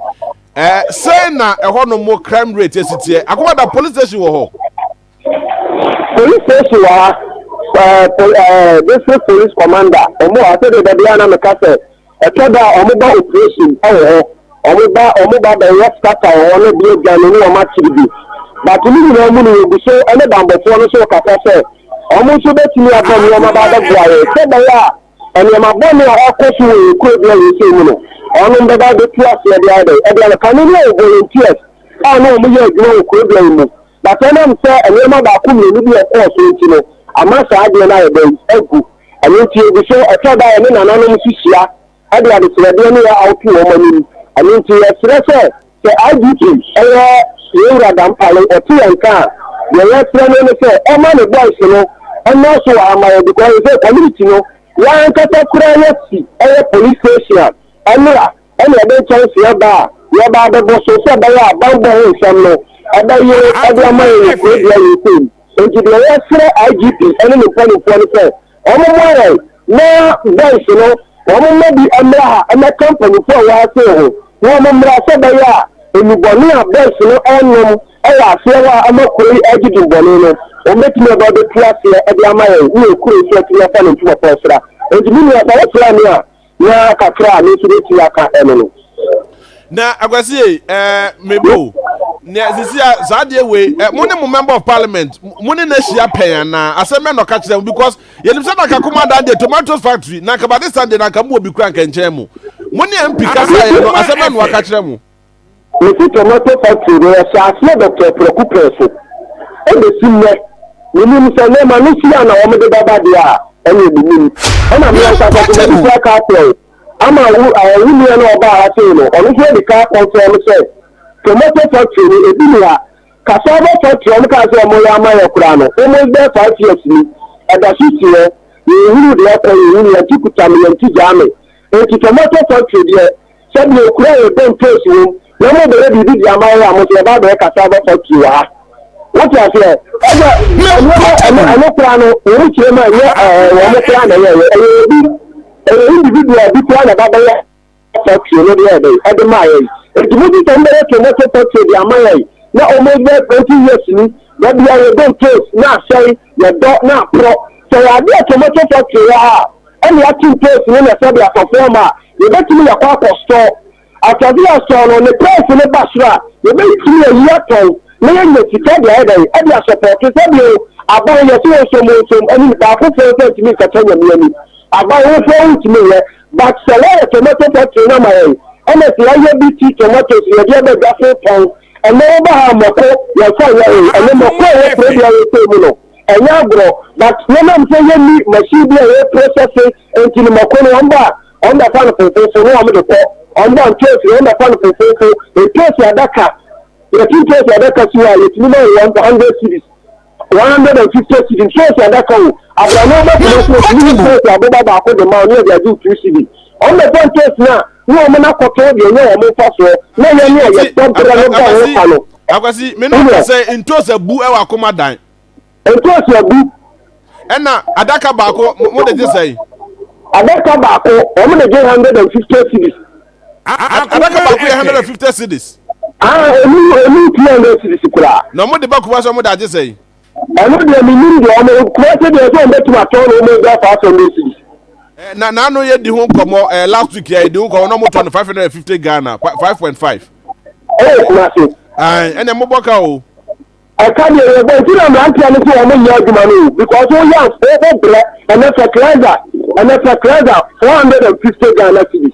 A: Ɛɛ sɛn na ɛhɔ nom crime rate esi teɛ? Akomada police station wɔ hɔ?
B: Police station wɔ ha. Ɛɛ pol ɛɛ district police commander wɔn wɔ ha sɛdeɛ dɛbi a na meka sɛ ɛtɔ da a wɔn ba operation wɔ hɔ wɔn ba wɔn ba bɛyɛ scatter wɔ hɔ ne bi adwa ne ne wɔn akyiri bi but ne nyinaa mu no yɛgu so ɛne bambɔfoɔ no so kasa sɛ wɔn nso bɛtumi aba nneɛma ba abɛboa yɛn sɛ bɛyɛ a Nneɛma bɔne a ɛrekɔ so wɔ yɛn kurodua wei sei mu no, wɔnom bɛba abɛtu aseɛ de ayɛ dɛn? Ɛdeɛ no, kane no yɛ volunteers a na wɔn yɛ adwuma wɔ kurodua yi mu, but ɛnam sɛ nneɛma baako mmienu bi a ɛkɔɔ so nti no, ama saa adeɛ no ayɛ dɛn? Agu. Ɛno nti ɛgu so, ɛtɔ da a yɛne nananom nso hyia de adesrɛdeɛ ne yɛ awoto wɔn anim. Ɛno nti yɛsrɛ sɛ. Sɛ IGP yɛ yɛn wura Dampare, ɔte yɛn nka a, deɛ yɛsrɛ no ne sɛ ɔma ne boys no mmra so wɔ ha ma yɛn because ɛsɛ community no yɛn ankasa koraa yɛsi yɛ police station a ɛmmra ɛna yɛde nkyɛnse aba a yɛba abɛbɔ so sɛ ɛbɛyɛ a banbɔ ho nsɛm no ɛbɛyere de ama yɛn wɔ kurodua wei sei mu. Enti deɛ yɛsrɛ IGP ne ne mpanimfoɔ ne sɛ wɔmmoa yɛn na boys no wɔmma bi mmra ha mmɛka mpanimfoɔ a ɛwɔ ha sei ho na wɔmmra sɛ ɛbɛyɛ a nnubɔne a boys no renom wɔ aseɛ hɔ a ama kuro yi regye dimbɔne no wɔbɛtumi aba abɛtu aseɛ de ama yɛn ne yɛn kuro nso atumi afa ne ntumafoɔ asra. Enti me nua sɛ wosra me a, Na kakra a me nso bɛtumi aka ɛno no. Na
A: akwasi ye ɛɛ mebo nea sisi a saa adeɛ wei ɛ mo ne mo member of parliament mo ne n'ahyia pɛn anaa asɛm bɛn na ɔka kyerɛ mo because yɛnim sɛ naka kuma dan deɛ tomatoes factory naka batista deɛ naka mu wɔ bi kura nka nkyɛn mo mo ne mp kasa yɛ no asɛm bɛn na ɔka kyerɛ mo. Mete tomato
B: factory no yɛhyɛ aseɛ dɔkta prɛko pɛ so ɛbɛsi nnɛ menim sɛ nneɛma no si a na wɔn de bɛba deɛ a ɛne menim ɛna me ankasa so mɛde kura kaa kyerɛw ama wo ɛɛ wo nua na ɔbaa ha sei no ɔno nso ɛde kaa kɔn kyerɛ me sɛ tomato factory no ebi ni ha cassava factory wɔn kaa sɛ wɔn yɛ ama yɛ koraa no almost bɛɛ five years ni ɛda so si hɔ yɛn huru deɛ ɛkɔ yɛn huru yɛn ti kuta me yɛn ti gyaa me. Enti tomato factory deɛ sɛ deɛ okura yɛ tomtoes wom na mo bɛyɛ biribi de ama yɛ a mo nso yɛba abɛyɛ cassava factory wɔ ha wote aseɛ ɛsɛ nneɛma ɛno ɛno koraa no wɔn kyerɛ mu a ɛnyɛ ɛɛ wɔn koraa na ɛyɛ ɛyɛ ɛyɛ obi ɛyɛ individual bi koraa na ɛba bɛyɛ factory no deɛ ɛbɛyɛ ɛde maa yɛ eti mo ti sɛ mo bɛyɛ tomato factory de ama yɛ na wɔn bɛ twenty years ni na bia yɛ tomtoes na asɛe yɛ dɔ na aporɔ sɛ yɛ adeɛ tomato factory wɔ ha. ɛne atum pɛɛsi no na sɛdeɛ asɔfoɔ ma a yɛbɛtumi yakɔ akɔstɔ asase yɛstɔn no ne pɛɛsi no ba soro a yɛbɛtumi ayi atɔn na yɛnya sika de ayɛ dɛn ɛde asɔpɔɔto sɛdeɛ aban yɛse wɔnsom wɔnsom anim baako foɔ nsa ntumi nkata nyame anim aban wo foɔ wontumi nyɛ but sɛ wɔyɛ tomato factory no ama yɛn ɛna sɛ yɛayɛ bi ti tomatoes yɛde aba dwa so tɔn ɛnɛ woba ha mɔko yɛnfa nyɛ hwee ɛnɛ mɔko a ɛwɔ kuro bi a yɛsɛ mu no ɛnyɛ agorɔ but yɛnam sɛ yɛnni machine bi a ɛyɛ processing nti no mako no wɔn ba a wɔn bɛfa no fofofo na wɔn de kɔ wɔn ba ntoos no wɔn bɛfa no fofofo ntoos adaka yɛte ntoos adaka si hɔ a yɛtumi ma wɔn one hundred cedis one hundred and fifty cedi ntoos adaka o abrane bɛtena so wɔtumi yi ntoos aboba baako de ma wɔn yɛ de agye two cedi wɔn bɛfa ntoos no a ne wɔn akɔtɔ deɛ ɛnyɛ wɔn mfasoɔ na yɛn a yɛbɔ berɛ no bɔ ho ka no. Akwasi, me na ɔka sɛ
A: ntoos abu wɔ akoma dan. Ntoos
B: abu. Ɛna
A: adaka baako mo de gye sɛn? Adaka
B: baako wɔn de gye hundred and fifty cedis. Adaka
A: baako yɛ hundred and fifty cedis. Ah, emu
B: emu two hundred cedis koraa. Na wɔn de ba kuma sɛ
A: wɔn de agye sɛn? Ɔno deɛ
B: menim deɛ ɔmo kura sɛ deɛ sɛ ɔmo bɛtumi atɔn no ɔmo gya five hundred cities. Eh, na na ano
A: yɛ di ho nkɔmɔ ɛɛ eh, last week yɛ di ho nkɔmɔ na ɔmo tɔ no five hundred and fifty Ghana five point five. Ɛyɛ kuma
B: se. Ɛn ɛna mo bɔ ka
A: o. Ɛka deɛ
B: yɛ bɔ nti na mmeranteɛ no sɛ ɔmo nyɛ adwuma no because o yɛ afɔ bɔ brɛ ɛna fertilizer ɛna fertilizer four hundred and fifty Ghana cities.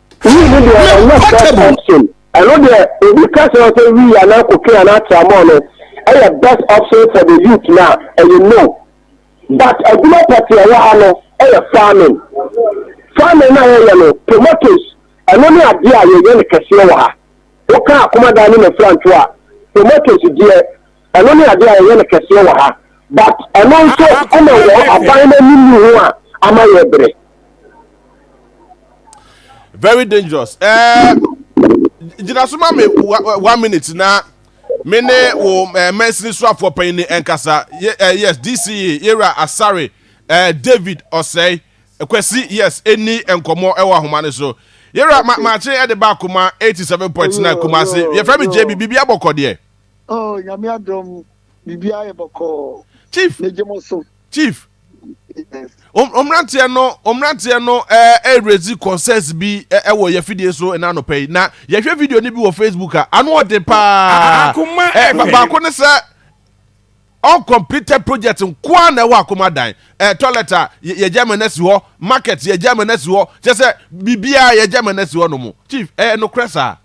A: Wii no deɛ
B: ɛnyɛ portable option ɛno deɛ obi ka sɛ ɔsɛ wii anaa koke anaa tramɔɔ no ɛyɛ best option for the youth na ɛyɛ no but adwuma pɔtee ɛwɔ ha no ɛyɛ farming farming na yɛyɛ no tomatoes ɛno ne adeɛ a yɛyɛ no kɛseɛ wɔ ha woka akomadan ne mafranto a tomatoes deɛ Ɛno ne adeɛ a yɛyɛ no kɛseɛ wɔ ha but ɛno nso ɛna wɔ aban no anim yi ho a ama yɛ brɛ.
A: Very dangerous. Eh, gyina so ma me one minute na me ne wo eh, mansini so afoɔ panyin ne nkasa. Ye, eh, yes, DCE, Yera Asare, eh, David Osei, Kwesi, yes, ɛni nkɔmmɔ ɛwɔ ahoma no so. Yera, ma, maakye ɛde ba akoma 87.9 Kumase. Yɛfrɛ me JB, biribi abɔkɔ deɛ. Oh nyame
E: adom biribiara yɛ bɔkɔɔ. Chief. Megye mo
A: so. Chief. Yes.
E: Omranteɛ no
A: omranteɛ no ɛɛ eh, ɛrezi eh, concerts bi ɛwɔ eh, yɛ fidie so ɛna anɔpɛ yi na yɛhwɛ video ni bi wɔ Facebook a ano ɔde paa. Akoma ɛɛ baako ne sɛ uncompleted project nkoa na ɛwɔ akoma dan ɛɛ toilet a yɛgya mɛ na si hɔ market yɛgya mɛ na si hɔ kyɛ sɛ biribiara yɛgya mɛ na si hɔ nom chief ɛɛ nokorɛ saa.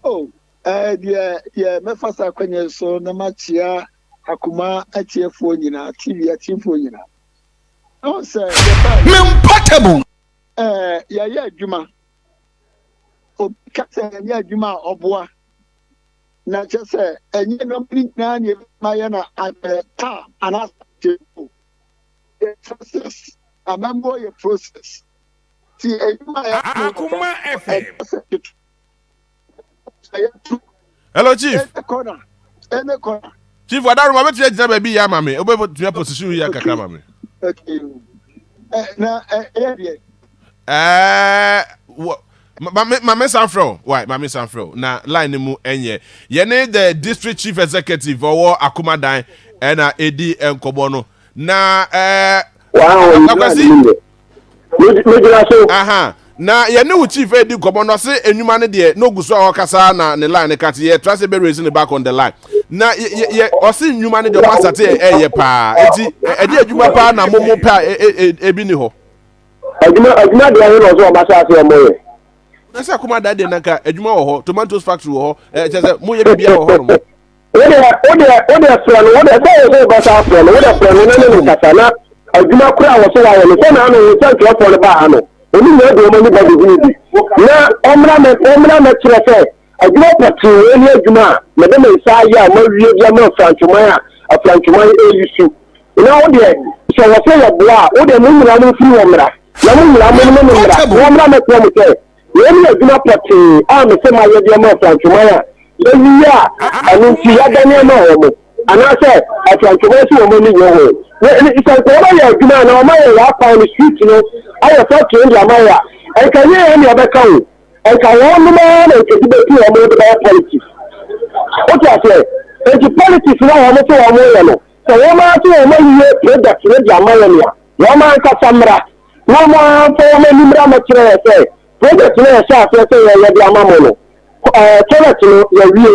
A: Oh. Ɛɛ, deɛ
E: deɛ mɛfa saa kwan yi so na makyea akoma atiefoɔ nyinaa, TV atiefoɔ nyinaa. Na wɔn sɛ yɛbaa yɛ.
D: Memportable. Ɛɛ,
E: yɛayɛ adwuma. Obi ka sɛ ɛnyɛ adwuma a ɔboa. Na kyerɛ sɛ ɛnyɛ nneɛma no nyinaa na ɛbɛma yɛ na ayɛ taa anaasɛ atiefoɔ. Yɛ process. Amammuo yɛ process. Ti adwuma a yɛayɛ no. Akoma FM.
F: Ɛnyɛ sɛ ketewa.
A: hello chief
E: chief wadaro ma bɛtumi
A: agyina baabi yɛ ama me wobɛtumi aposition yɛ kakra ma me mame san frɛ o wai mame san frɛ o na line no mu ɛnyɛ yɛne the district chief executive ɔwɔ akomadan ɛna ɛdi nkɔmmɔ no na ɛɛ eh, akwasi megyina so. aha na yɛne wo chief edi nkɔmɔ na ɔse enwuma no deɛ na ogu so a ɔkasa na ne line no ka te yɛtra sɛ bɛ raise ne back on the line na yɛ ɔse nnwuma no deɛ ɔma asate yɛ ɛyɛ paa eti ɛde adwuma paa na mo mo pɛ a ebi ni hɔ. adwuma
B: adwuma deɛ ɛho na ɔsɛ ɔma asase ɔmo yɛ. na sɛ akoma
A: da deɛ nanka adwuma wɔ hɔ tomatoes factory wɔ hɔ ɛkyɛ sɛ mo yɛ biribiara wɔ hɔ nom. wode wode
B: wode frɛ no wode sɛ wo sɛ bɛsa frɛ no wode frɛ no na ne ne nkasa na adwuma koro a wɔso wayɛ no sɛ na ano sɛ nkyerɛfoɔ no baa ha no ɔno nyɛ de ɔma nipa de hunu bi na ɔmmra mɛ ɔmmra mɛkyerɛ sɛ adwuma pɔtee wei ne adwuma a mede me nsa ayɛ a mawie bi ama afrantwoman a afrantwoman ɛyi su na wodeɛ sɛ wɔ sɛ yɛboa a wodeɛ mo nyina mo mfiri wɔ mmra na mo nyina mo ne mo mmra na ɔmmra mɛkyerɛ mo sɛ Wei ne adwuma pɔtee a mese mayɛ de ama Afrantwoman a yɛayiyi a ɛno nti yɛadane ama wɔn, anaasɛ Afrantwoman se wɔn ani nnye ho. Sɛ nka wɔbɛyɛ adwuma anaa wɔayɛ yɛn akwan no, street no, ayɛ factory no de ama yɛn a, nka ɛnyɛ yɛn na yɛbɛka o, nka wɔnom ara na nka ebi bɛtu wɔn de bɛyɛ politics. Wote aseɛ? Enti politics no a wɔn se wɔn yɛ no, sɛ wɔn ara se wɔn ayiyi product no de ama yɛn a, wɔn ankasa mmra. na wɔn ara mfa wɔn ani mmra mmɛkyerɛ yɛn sɛ project no a yɛhyɛɛ aseɛ sɛ yɛyɛ de ama mo no, ɛɛ toilet no yɛawie,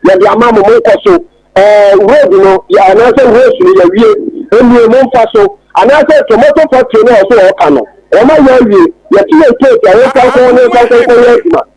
B: yɛde ama mo, monkɔ so, ɛɛ road no yɛ anaasɛ roads no yɛawie, ɛnnie momfa so, anaasɛ tomato factory no a ɔsɛ ɔɔka no, wɔn ayɛ awie, yɛte yɛn case a yɛmfa nkɔ hɔ na yɛmfa nkɔ nkɔyɛ adwuma.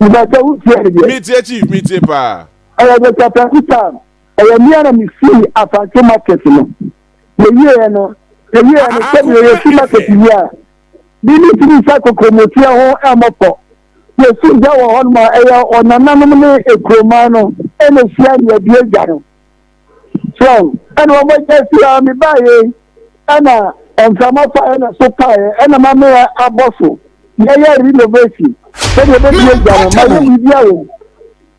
E: Mepɛsɛ wo tie me deɛ. Me tie chief, me tie
A: paa. Ɛyɛ the Satanku
E: time. Ɛyɛ mea na me sii Asante market no. Me wieɛ no, me wieɛ no sɛ deɛ yɛ si market wie a, me ne tiri sa kokomotia ho ɛmɔ fɔ. Yɛ si gya wɔ hɔ nom a, ɛyɛ ɔnananom ne ekuromaa no ɛna hyia ne abie gya no. Sɛn? Ɛna wɔn agya si a mebaeɛ yi, ɛna mframa faeɛ na so paeɛ, ɛna mamea abɔ so, yɛyɛ renovation, sɛdeɛ ɛbɛsi agya no, mayɛ biribi a wɔm.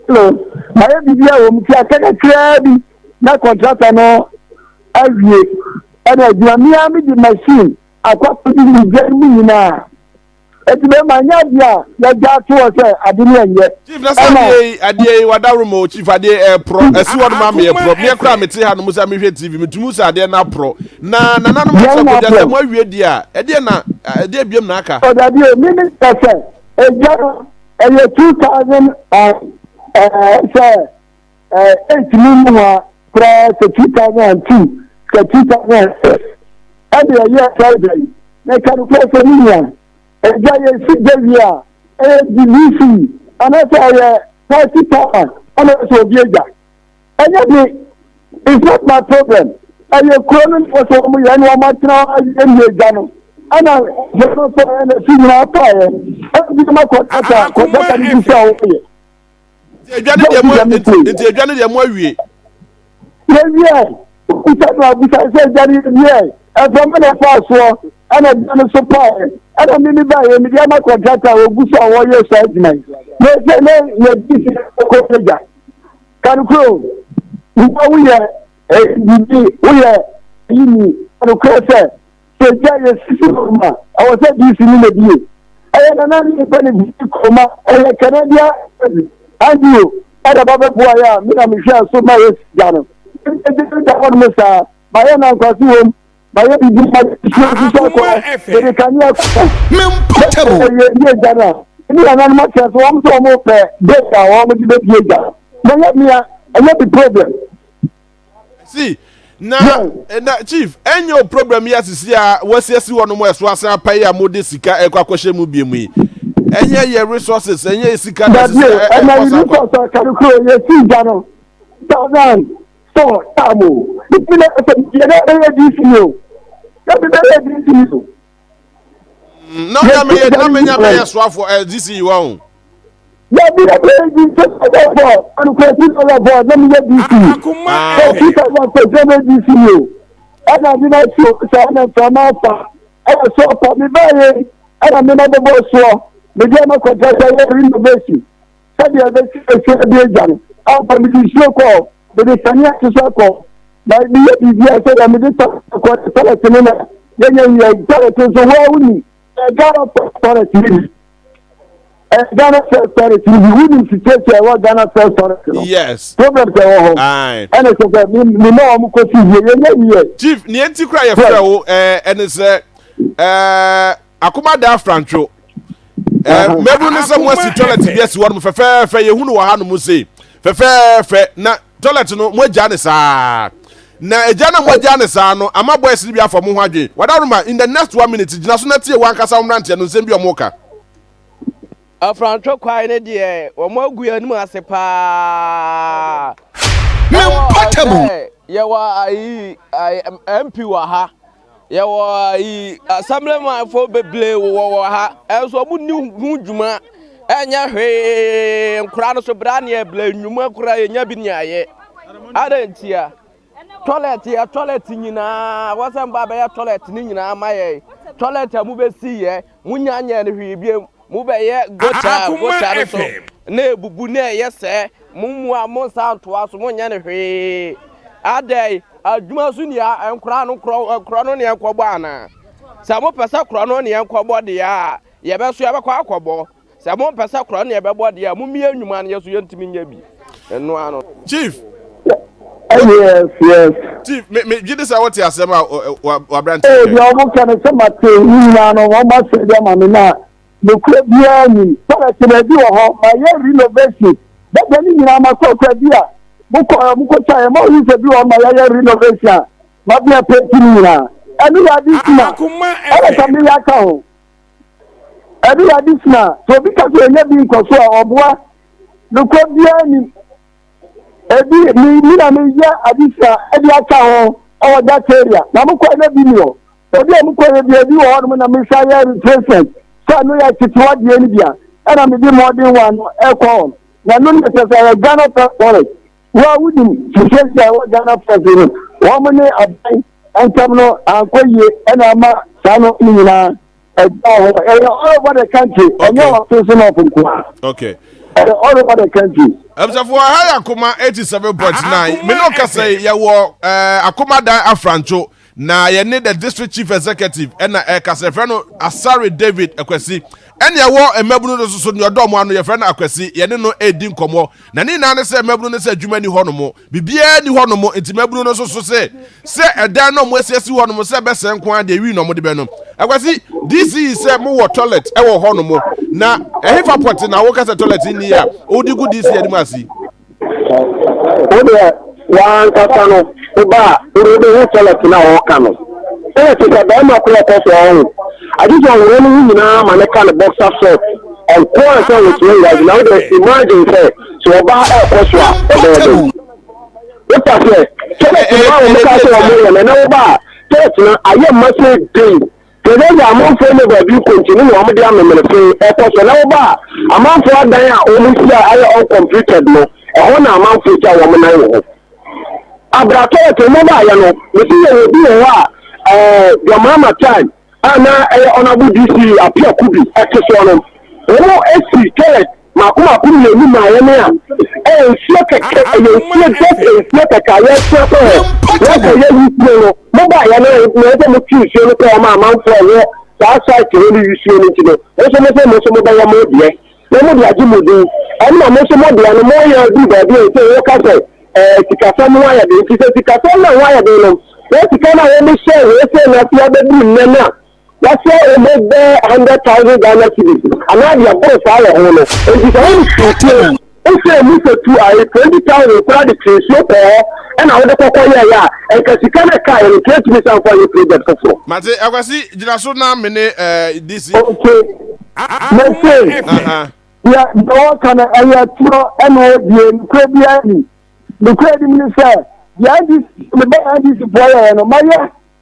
E: Hello, mayɛ biribi a wɔm, ti aka kakraa bi na kɔntrata no awie, ɛna adwuma, mea mede machine akɔ akɔdi ne gya mu nyinaa. Eti me ma nyɛ adeɛ a yɛgya ato hɔ sɛ ade ne ɛnyɛ. Chief na sɛ adeɛ yi
A: adeɛ yi wadaworo mo chief adeɛ ɛɛporɔ ɛsi hɔ nom ama yɛporɔ meɛ koraa mete ha nom sɛ mehwɛ tv metumi sɛ adeɛ no aporɔ na nananom akyerɛ kɔgya sɛ mo awie deɛ a ɛdeɛ na ɛdeɛ biam na aka. Ɔdabi o mimi
E: sɛ sɛ ɛgya no ɛyɛ two thousand and ɛɛ sɛ Eh, ɛntumi nyi hɔ a koraa sɛ 2002 sɛ 2006 ɛde ɛyɛ ɛsɛreda yi na ɛka no koraa sɛ ne nua ɛgya yɛ si gya wie a ɛyɛ dvc anaasɛ ɛyɛ party power ɛna ɛsɛ obi agya ɛnyɛ de it's not my problem ɛyɛ kuro no nfɔ sɛ wɔn yɛ ne wɔn atena ɛyɛ agya no ɛna yɛn nso ɛna si nyinaa paayɛ ɛna bi ma kɔ kata kɔ kata ne bi sɛ wɔyɛ. edwa ne deɛ mo
A: nti edwa ne deɛ mo awie. yɛwie
E: okuta no abusa sɛ edwa ne yɛwie ɛfɛ mo na ɛfaa soɔ ɛna edwa no so paeɛ ɛna mimi baeɛ mede ama kɔntrata a wɔgu so a wɔyɛ saa adwuma yi na ɛsɛ ne yɛdi sɛ ɛkɔ agya kanokoro nipa woyɛ ɛdidi woyɛ yini kanokoro sɛ Sɛsi a yɛsi kurom a, ɛwɔ sɛ DC no na bie. Ɛyɛ nana ne nipa ne bisi kurom a, ɛyɛ Canadian embassy. Andrew ɛna ba bɛ boa yɛ a, me na me hwɛ so ma yɛ si gya no. Ɛyɛ gya no da hɔ nom saa, ma yɛ nankwasi wom, ma yɛ bibi ma yɛ si osu sɛ kɔ, yɛ de kanea kɔ ho.
D: Sɛ yɛ yɛ bie gya no a,
E: me ne nana nom akyɛ so wɔn so wɔn pɛ date a wɔn de bɛ bie gya no. Mɛ yɛ mea, ɛnyɛ bi problem.
A: si na na chief ɛnyɛ o program yi asisi a wɔasiesie hɔ nom a ɛso asan apa yi a mode sika ɛkɔ akɔhyɛ mu bie mu yi ɛnyɛ yɛ resources ɛnyɛ yɛ sika na asisi a ɛkɔ sa akɔ. ɛnna
E: kari kuro yɛ si gya no thousand four taamu ebi na ɛsɛ yɛ dɛ ɛyɛ dc o ɛbi dɛ ɛyɛ dc o.
A: na ɔyɛ meyɛ na menya bɛyɛ soafoɔ ɛ dc yi wa o. yɛbi
E: yɛ bɛ di sɛ ɔbɛfɔ anukurasi na ɔbɛfɔ na meyɛ dc akoma sɛ ɛ sika
F: na pɛsɛ na dc
E: yi o ɛna de na so sɛ ɛna mframa afa ɛna so ɔpa me bɛyɛ ɛna me na bɛbɔ soɔ mede ɛna kɔtɛ sɛ yɛ renovation sɛdeɛ ɛbɛsi ɛsi ɛde agya no ampa mede nsuo kɔɔ mede kanea hyehyɛ kɔɔ na meyɛ biribi a sɛdeɛ mede tɔ kɔɔ ne tɔlɛt no na yɛnyɛ nyɛ tɔlɛt nso waa woni ɛgana fɛ tɔlɛt no bi ɛgana fɛ tɔlɛt no bi wonim situation ɛwɔ gana fɛ tɔlɛt no yes problem
A: sɛ ɛwɔ hɔ
E: ae ɛne sɛ sɛ
A: me
E: ma wɔn kɔsi yie yɛnyɛ yie chief nea nti kora yɛfrɛ
A: wo ɛɛ ɛne sɛ ɛɛ akomadaa frantwo ɛɛ mmabunu no sɛ mo asi toilet bi asi hɔ nom fɛfɛɛfɛ yɛhu no wɔ ha nom se fɛfɛɛfɛ na toilet no mo agya ne saa na agya na mo agya ne saa no ama boys no bi afɔ mo ho adwene wadaroma in the next one minute gyina so na tie wɔn ankasa wɔn mmeranteɛ no nsɛm bi wɔn ka. afrantwe
C: kwae no deɛ wɔn agu yɛn anim ase paa.
D: mempata mu. yɛwɔ
C: ayi mp wɔ ha. Yɛwɔ ayi asɛmblemafoɔ bebree wɔ wɔ ha ɛnso ɔmo ni ho dwuma ɛnyɛ hwee nkora no so bra neɛ bla nnwuma kora yɛnya bi neɛ ayɛ ada ntia tɔlɛt yɛ tɔlɛt nyinaa wɔsɛ mba bɛyɛ tɔlɛt ne nyinaa ma yɛ tɔlɛt a mo bɛsi yɛ mo nya nyɛ no hwee biem Mobɛyɛ gotaa gotaa no so na abubu na ɛyɛ sɛɛ, mo mu a mo nsa antoa so monyɛ no hwee. Adɛn, adwuma so ni a, nkora no korɔ no ne yɛnkɔbɔ anaa? Sɛ mopɛ sɛ korɔ no ne yɛnkɔbɔ deɛ a, yɛbɛso yɛbɛkɔ akɔbɔ, sɛ mompɛ sɛ korɔ no ne yɛbɛbɔ deɛ a, mommie nnwuma no, yɛn nso yɛntumi nyɛ bi. ɛno ara no. chief.
A: yes
E: yes. chief me me gye de
A: sɛ wɔte asɛm a wabrante. ee deɛ wɔn ka no sɛ
E: ma te ne nyinaa no wɔn asɛ de ama me na nokura biara nim tɔlɛte baabi wɔ hɔ ma yɛ renovation bɛbɛ ne nyinaa ma kɔ kura bi a mokɔ ɛ mokɔ sa yɛ ma oyi sɛ bi wɔ ma yɛyɛ renovation a ma bia pɛnti ne nyinaa ɛne yɛ adi kuma ɛna sɛ meyɛ aka ho. ɛde yɛ adesua a, sɛ obi ka sɛ ɔnya bi nkɔ so a, ɔboa. Nokwa biara nim. Ebi me mi na meyɛ adesua de aka ho wɔ that area. Na mokɔɛ na bi ni hɔ. Ebi a mokɔyɛ bi ebi wɔ hɔnom na mesa yɛ replacement. Sɛ ɛno yɛ tetewa deɛ no bi a, ɛna mede mmɔden wɔ ano ɛkɔ hɔ. Na ɛno ne ɛsɛ sɛ ɛyɛ Ghana Forest. Wo a wonim te sɛnti a ɛwɔ Ghana fɛse no wɔn ne aban ntam no ankɔ yie ɛna ama saa no ne nyinaa ɛgyaa hɔ. Ɛyɛ all over the country. Ɛnyɛ wɔ Asenso North nkoa. Okay. Ɛyɛ
A: all over the
E: country. Ɛbisafo aha yɛ
A: akoma eighty seven point nine. Me no kasa yi yɛ wɔ ɛɛ akoma dan afrancho. Na yɛne the district chief executive ɛna ɛkasa yɛfrɛ no Asare David Akwasi ɛne ɛwɔ mmabunu no soso nea ɔdɔ ɔmo ano yɛfrɛ no Akwasi yɛne no ɛɛdi nkɔmɔ na ne nyinaa ne sɛ mmabunu no sɛ adwuma ni hɔ nom bibiaa ni hɔ nom nti mmabunu no soso sɛ sɛ ɛdan na ɔmo asi asi hɔ nom sɛ ɛbɛsɛe nko ara deɛ ɛwi na ɔmo de bɛ no Akwasi DC yi sɛ mo wɔ toilet ɛwɔ hɔ nom na ɛhefa pɔte na wokasa toilet nni a wodi gu DC anim asi.
B: wo deɛ wankasa no woba a wode wobɛhu sɛlɛt no a wɔka no ɛyɛ te sɛ bɛrima korɔ kɔ so ɔho agye sɛ ɔwerɛ no ho nyinaa ma ne ka ne bɔksa sɛ ɔnko a sɛ wɔtua wurade na wode imagine sɛ sɛ ɔba ɛkɔ so a ɔbɛyɛ dɛ wopa sɛ sɛlɛt no a wɔmka sɛ ɔmo yɛ no ɛnɛ woba a sɛlɛt no ayɛ mma sɛ den Hwɛ sɛdze amamfo no baabi nkontsee no na wɔdze amemenefe kɔ sɛ. Na wɔba a, amamfo adan a wohyiae ayɛ uncompleted no, hɔ na amamfo gya wɔn nan wɔ hɔ. Aber a toilet no baayɛ no, mese yɛwɔ bi wɔ hɔ a Dwamama time a na ɛyɛ Honourable DC Appiah Kubi te soɔ no, wɔn si toilet Mako mako mmienu maa yɛn a, ɛyɛ nsuo kɛkɛ, ɛyɛ nsuo just nsuo kɛkɛ a yɛsua sɛ ɛ, yɛsɛ yɛ wusuo no, mo ba yɛn a, na yɛsɛ mo tu nsuo no kɔ wɔn amanfoɔ ɛwɔ saa site hɔ no wusuo no nti no, mo nso mo sɛ mo nso mo bɛyɛ mo deɛ, na mo de agye mo din, ɛna mo nso mo deɛ no mo yɛ bi baabi a ɛsɛ wɔka sɛ ɛɛ sikasɛm ho ayɛ den, nti sɛ sikasɛm na ho ayɛ den no, na sika no a wɔn hyɛ wɔn sɛ na afei abɛduru nnɛ no a. Yɛasoa wɔn mu bɛyɛ hundred thousand Ghana cedis anaa deɛ ɛboro saa wɔ ho no. Enti sɛ wode firi fie, wohyɛɛ mu sɛ tu ae twenty thousand koraa de tee nsuo kɔɔ hɔ ɛna wode kɔkɔ yɛeɛ a, nka sika no a ɛkaeɛ no nka ɛtumi san fa yɛ project foforɔ. Mate, Akwasi
A: gyina so na me ne eh, DC. Okay.
B: Mese, Aha. deɛ deɛ wɔka no ɛyɛ atorɔ ɛna ɛbie nokorɛ biara ni. Nokorɛ nim ne sɛ, deɛ NDC, mebɛyɛ NDC foɔ yɛeɛ no, mayɛ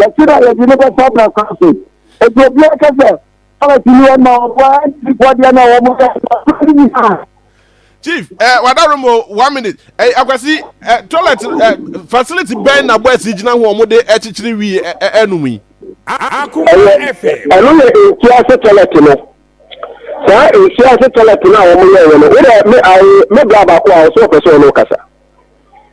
A: yɛse na yɛde no bɛfa brasɔre so. Enti obiara ka sɛ Palace ni ɔma ɔboa NDC foɔ deɛ na wɔn yɛ brasɔre no nyinaa. Chief, eh, wadaro mo one minute. Eh, akwasi, eh, toilet eh, facility bɛn na boys yi gyina ho a wɔde akyekyere wi eh, eh, anum yi.
F: ɛno yɛ nsuo
B: ase toilet no saa nsuo ase toilet no a wɔyɛeɛ no wodɛ me bra baako a ɔsɛ ɔpɛ sɛ ɔne wokasa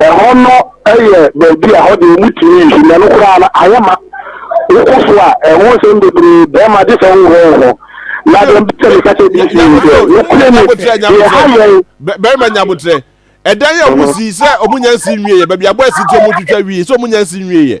A: Ɛhɔ no
B: yɛ baabi a ɛhɔ deɛ wɔtumi nsu na no koraa no ayɛ ma wokɔ so a ɛho nsɛm bebree bɛrima gye sɛ wohɔ wo ho na deɛ mpɛ sɛ meka kyɛ bi si ne sɛ nokorɛ ni deɛ ha yɛn
A: bɛrima nyabotrɛ ɛdan yɛ ɔmo sii sɛ ɔmo nya nsi nwieɛ baabi abɔ asi nti ɔmo twitwa wie sɛ ɔmo nya nsi nwieɛ.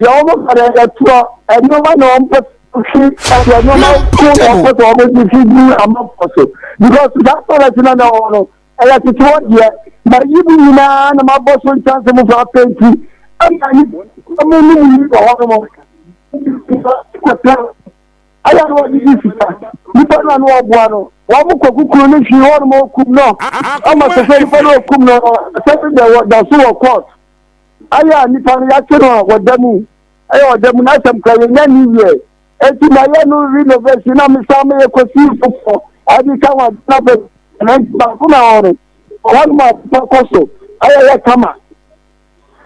B: deɛ wɔn fa no ɛtoɔ nneɛma na wɔn pɛ fi ɛdeɛ nneɛma ko na wɔn pɛ sɛ wɔn de fi gu amanfoɔ so because saa toilet na na wɔn no ɛyɛ tete hɔ deɛ na yi mu nyinaa na ma bɔ so nkyɛnse mu fa penti ɛna yi wɔn mu mu yi wɔ hɔ nom ayɛ no wɔde di sika nipa no ano ɔboa no wɔn mu kɔ kukuru ne hwi wɔn mu okum no ama sɛ sɛ nipa no okum no sɛ ɛbɛ wɔ da so wɔ court. Ayɛ a nipa no yɛakye no a ɔda mu ɛyɛ ɔda mu n'asɛm kora yɛnya ne wiɛ eti mayɛ no renovation na mesan meyɛ kɔsi foforɔ ade ka ho ade na bɛ na nti baako na hɔ no ɔhɔnom a papa kɔ so ɛyɛ yɛ kama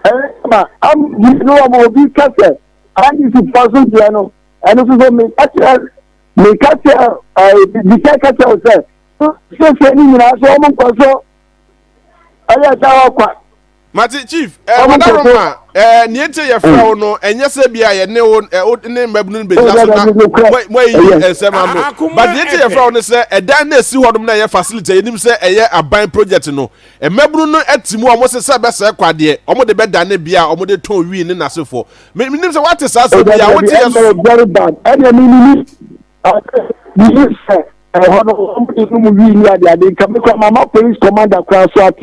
B: ɛyɛ kama am yi no wɔn obi ka sɛ andisi fɔ so deɛ no ɛno nso so me kakyɛ me kakyɛ ɛɛ bibi sɛ kakyɛ o sɛ sɛ sɛ ne nyinaa so wɔn nkɔ so ɛyɛ da hɔ kwa. mate chief
A: eh, Ɔmo wadaro kɔkɔ. ma eh, nea nti yɛfrɛ wo no ɛnyɛ sɛ bi a yɛne wo eh, wo ne mmabunu no bɛgyina so na mo- moayiyi Ɛyɛ. nsɛm A- ano akoma but nea nti ɛpɛ. yɛfrɛ wo no sɛ ɛdan no ɛsi hɔ nom na ɛyɛ facility a yɛnim sɛ ɛyɛ aban project no mmabunu no ati mu a ɔmo se sɛ bɛsɛe kwadeɛ ɔmo de bɛdane bea a ɔmo de tɔn wii ne nasefoɔ Me- menim sɛ woate saa sɛ bi a wote yɛ so ɛyɛ very bad ɛna
B: mi ni mi mi ni sɛ ɛhɔ no wɔn de no mu wii ni ade ade nka mi kɔ mama police commander kora so ate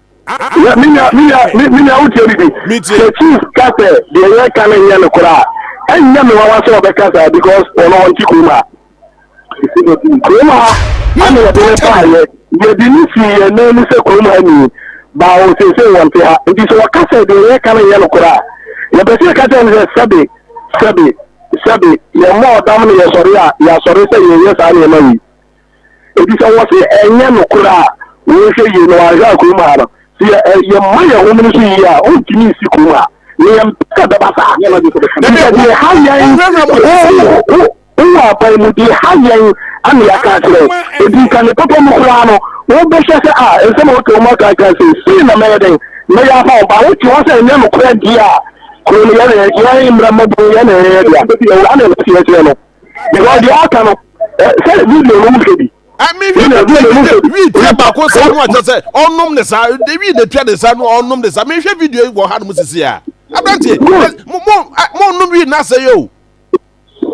A: Yeah, me nua, me nua, me
B: me nua wotie bibi. Metie. Sɛ chief ka sɛ deɛ yɛka no nyɛ no koraa a, ɛnyɛ me nwanwa sɛ ɔbɛka saa because ɔno ɔnte kurom ha. Kurom ha ana yɛde no baeɛ, yɛde no sii yɛn nan mu sɛ kurom ha ni, baa wɔ seesei wɔnte ha. Nti sɛ ɔka sɛ deɛ yɛka no nyɛ no koraa a, yɛpɛ sɛ yɛka kyerɛ no sɛ sɛbe, sɛbe, sɛbe, yɛmmɔ ɔdam na yɛsɔre a, yɛasɔre sɛ yɛnyɛ saa nneɛma wei. Enti sɛ wɔse ɛnyɛ nokorɛ a, wonhwɛ yie na wanhwɛ a kurom ha no, sɛ yɛ ɛ yɛmma yɛn home no so yie a, ontumi nsi kurom ha. Nea yɛmpɛ sɛ ɛbɛba saa. Ɛnneɛ deɛ ɛha yɛn, wo, wo, wowɔ aban mu, deɛ ɛha yɛn na yɛaka akyerɛ wo. Enti nka ne papa mu koraa no, wobɛhwɛ sɛ a, nsɛm a wote wo mma ka ka sei, sei na mɛyɛ dɛn? Mɛyɛ afa wo ba. Wote hɔ sɛ ɛnyɛ nokorɛ deɛ a, kuro no yɛn na yɛn mmara mmɔborɔ yɛn na yɛyɛ dea. Saa na ɛteɛ kyerɛ no. because deɛ aka no sɛ video no mu hwɛ
A: bi. ɛmi wi mi tia mi tia wi tia baako sa no akyɛ sɛ ɔnom ne sa de wi na tia ne sa no ɔnom ne sa mi hwɛ video wɔ ha nom sisi a aberanteɛ mo mo mo nom wi na sɛ yɛ o.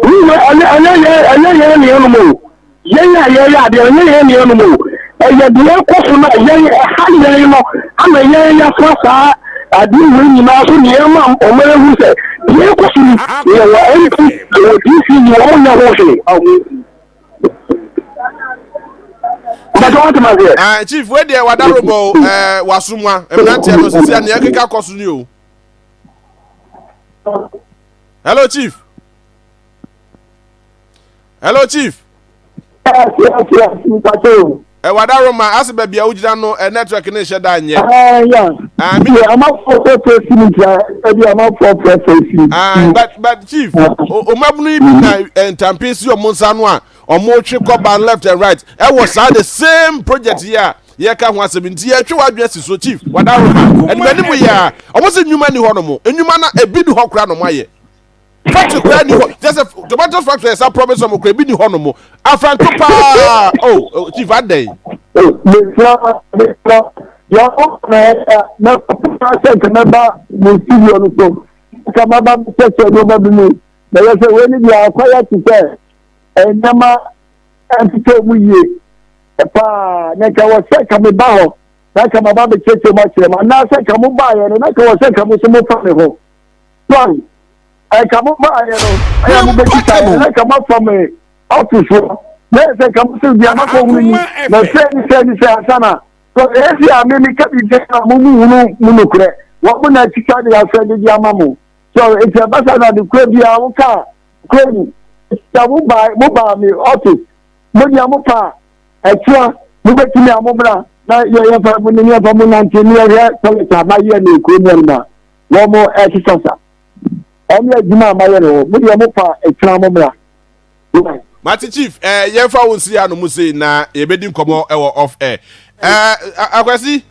A: wi yɛ ɛnyɛ ɛnyɛ yɛ ɛnyɛ yɛ ne yɛ nom o. Yɛn a yɛyɛ adeɛ no nyɛ yɛn nuanom o, ɛyɛ deɛ ɛkɔ so no a yɛn ɛha yɛn no ama yɛn yɛafra saa adeɛ wei nyinaa so nea ɛma ɔman ahunu sɛ deɛ ɛkɔ so ni deɛ wɔ MP deɛ wɔ DC ni wɔn nyɛ ho hwee ɔho bàtà wọn ti ma se. ɛɛ chief wei deɛ wada robɔ o ɛɛ wasumwa mmeranteɛ no sisi a nea ɛkeka kɔ so ni o. hello chief. hello chief. yes yes yes mpatɛ o. ɛwɔ adaroma ase baabi a wogyina no ɛ network ne nhyɛ da nyɛ. ɛɛ ya ɛɛ amafo fɛ fɛ si mi tia ɛbi amafo fɛ fɛ si. ɛɛ but but chief omabunu yi bi na eh, ntampe si ɔmo nsa no a ɔmo twe kɔba left and right ɛwɔ saa the same project yi a yɛka ho asɛm nti yɛtwe wadwene si so chief wadaroma ɛnumɛnimu yɛ a ɔmo si nnwuma ni hɔ nom nnwuma na ebi ni hɔ kora nom ayɛ. factory kura ni hɔ just a tomatoes factory ɛsa promise ɔmo kura ebi ni hɔ nom afranto paa oh chief adai. mesra mesra yàrá na ɛyà na kókòtò asɛ nkàmɛba mo studio no so nkàmɛba mi sɛsɛ ní ɔba bi mu na yɛ sɛ wei ni bi akɔ yɛ ti sɛ ɛnɛma
E: ɛntete ɔmo yie paa na nka wɔ sɛ nkàmɛba hɔ na nkàmɛba bɛ kyerɛkyerɛ mu akyerɛ mu anaasɛ nkàmɛba yɛ no na nkàmɛba sɛ nkàmɛba so mo fa mi ho. sɔre nka mo baayɛ no ɛyɛ mo bɛkita yɛ na nka moafa me office hɔ na yɛ sɛ nka mo sɛ bia makɔ hunu ni na sɛ ni sɛ ni sɛ ansa na so ɛsi a me meka biribi a mo mu hunu mu nokorɛ wɔn mo na akita de asɛ de de ama mo so nti ɛbasa na de kura bi a woka kura ni sɛ mo baa mo baa me office mo nea mo pa ɛkyia mo bɛtumi a mo bra na yɛ yɛfa mo ne yɛfa mo nante ne yɛhwɛ tɔlɛta na yɛ ne kuro mu ɛnima wɔn ɛsesa sa ɔmo adwuma a mayɛ no mo deɛ mo pa ɛtena mo mmra.
A: mate chief eh, yɛmfa wo nsiri ano mu sei na yɛbɛdi nkɔmmɔ ɛwɔ off air eh, akwasi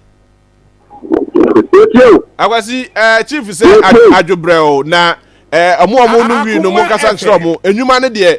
A: akwasi eh, chief sɛ adwobrɛ o na eh, ɔmo ɔmo no wii no mo nkasa nkyerɛ ɔmo enyuma no deɛ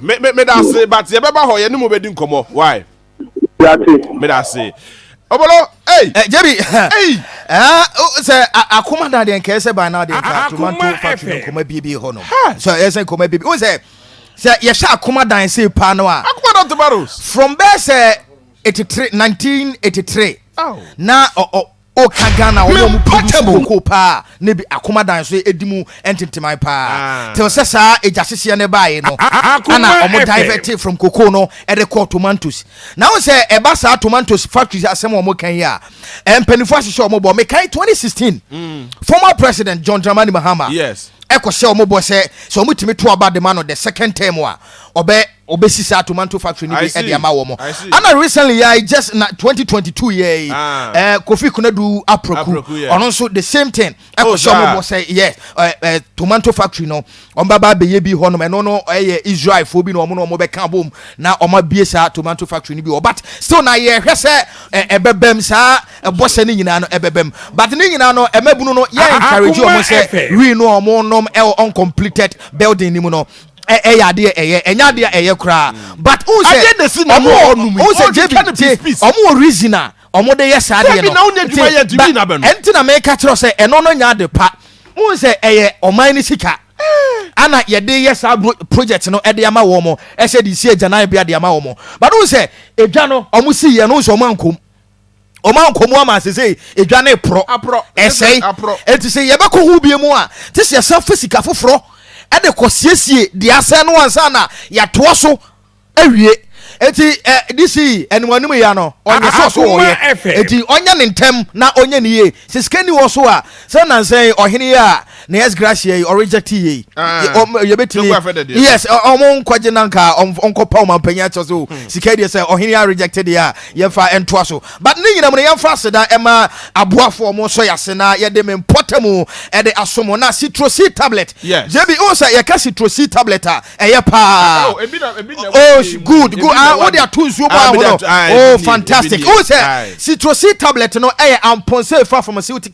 A: me me me da ase but yɛ bɛba hɔ yɛ ne mo bɛ di nkɔmɔ why. yate.
B: me da ase.
A: Obolo, hey! Eh, Jerry, hey!
D: Ah, oh, sɛ akoma da deɛ nkɛɛ sɛ ban na adeɛ nka tomato factory no nkɔma bie bi hɔ no sɛ ɛyɛ sɛ nkɔma bie bi wo sɛ sɛ yɛhyɛ akoma dan sei paa no a akoma dan tomatoes from
A: bɛɛ sɛ
D: 83 1983 na O ka Ghana wɔn a wɔn produce cocoa paa ne bi akoma dan so edi mu ntenteman paa till sɛ saa egya hyehyeɛ no baa yɛ no ɛna wɔn divert from cocoa no ɛde kɔɔ tomatoes na wɔn sɛ ɛba saa tomatoes factory asɛm wɔn kan yi a mpanyinfoɔ ahyehyɛ wɔn bɔ mekan 2016 hmm. former president John Dramani Mahama ɛkɔ hyɛ wɔn bɔ sɛ sɛ wɔn tumi to aba dema no the second term a ɔbɛ. Wɔbɛsi saa tomanto factory no bi de ama wɔn. Ɛna recently yɛ I just na twenty twenty two yɛ yi ɛɛ Kofi Konadu Apraku ɔno nso the same thing ɛkɔ sɛ wɔn bɔ sɛ yɛ ɛɛ ɛɛ tomanto factory no wɔn baba abɛyɛ bi hɔnom ɛno no ɛyɛ Israel fo bi na wɔn na wɔn bɛka bom na wɔn abie saa tomanto factory no bi wɔ but still na yɛ hwɛ sɛ ɛɛ ɛbɛbɛm saa ɛbɔ sɛ ne nyinaa no ɛbɛbɛm but ne nyinaa no ɛmɛbunu no yɛ encourage wɔn sɛ wii no wɔn nom ɛwɔ uncompleted building ni mu no ɛyɛ adeɛ ɛyɛ ɛnyɛ adeɛ ɛyɛ koraa mm. but n sɛ ɔmo wɔ n sɛ jebi te ɔmo wɔ reason a ɔmo de yɛ saa adeɛ no nti ba ɛnti na mɛka kyerɛ sɛ ɛno no nya ade pa n sɛ ɛyɛ ɔman ne sika ana yɛde yɛ saa project no ɛde ama wɔn mo ɛsɛ de si agyanan bi ɛde ama wɔn mo but n sɛ edwa no ɔmo si yɛ no n sɛ ɔmo ankom. wɔn a nkɔmu ama sese edwa ne porɔ ɛsɛe eti sɛ yɛbɛkɔ ho bie mu a te sɛ yɛsan fa sika foforɔ ɛde kɔ siesie deɛ asɛn no ansa na yɛatoa so awie eti ɛ disi ɛnimanim yɛ no ɔnyɛ sɛ ɔso wɔyɛ eti ɔnyɛ ne ntɛm na ɔnyɛ ne yie sɛ sika ni wɔ so a sɛ nansɛn ɔhene yɛ a. na yes gracia yi ɔreject yei yɛbɛtumi yes ɔmo nkɔgye na nka ɔnkɔpa ɔma mpanyin akyɛ so hmm. sika deɛ sɛ ɔhene a reject deɛ a yɛmfa ɛntoa so but ne nyinam no yɛmfa aseda ɛma aboafo ɔmo nso yɛ ase na yɛde me mpɔta mu ɛde asomo na citrosi tablet jb o sɛ yɛka citrosi tablet a ɛyɛ paa oh, oh good good ah wode ato nsuo mu ahono oh fantastic o sɛ citrosi tablet no ɛyɛ ampɔnsɛ efa from a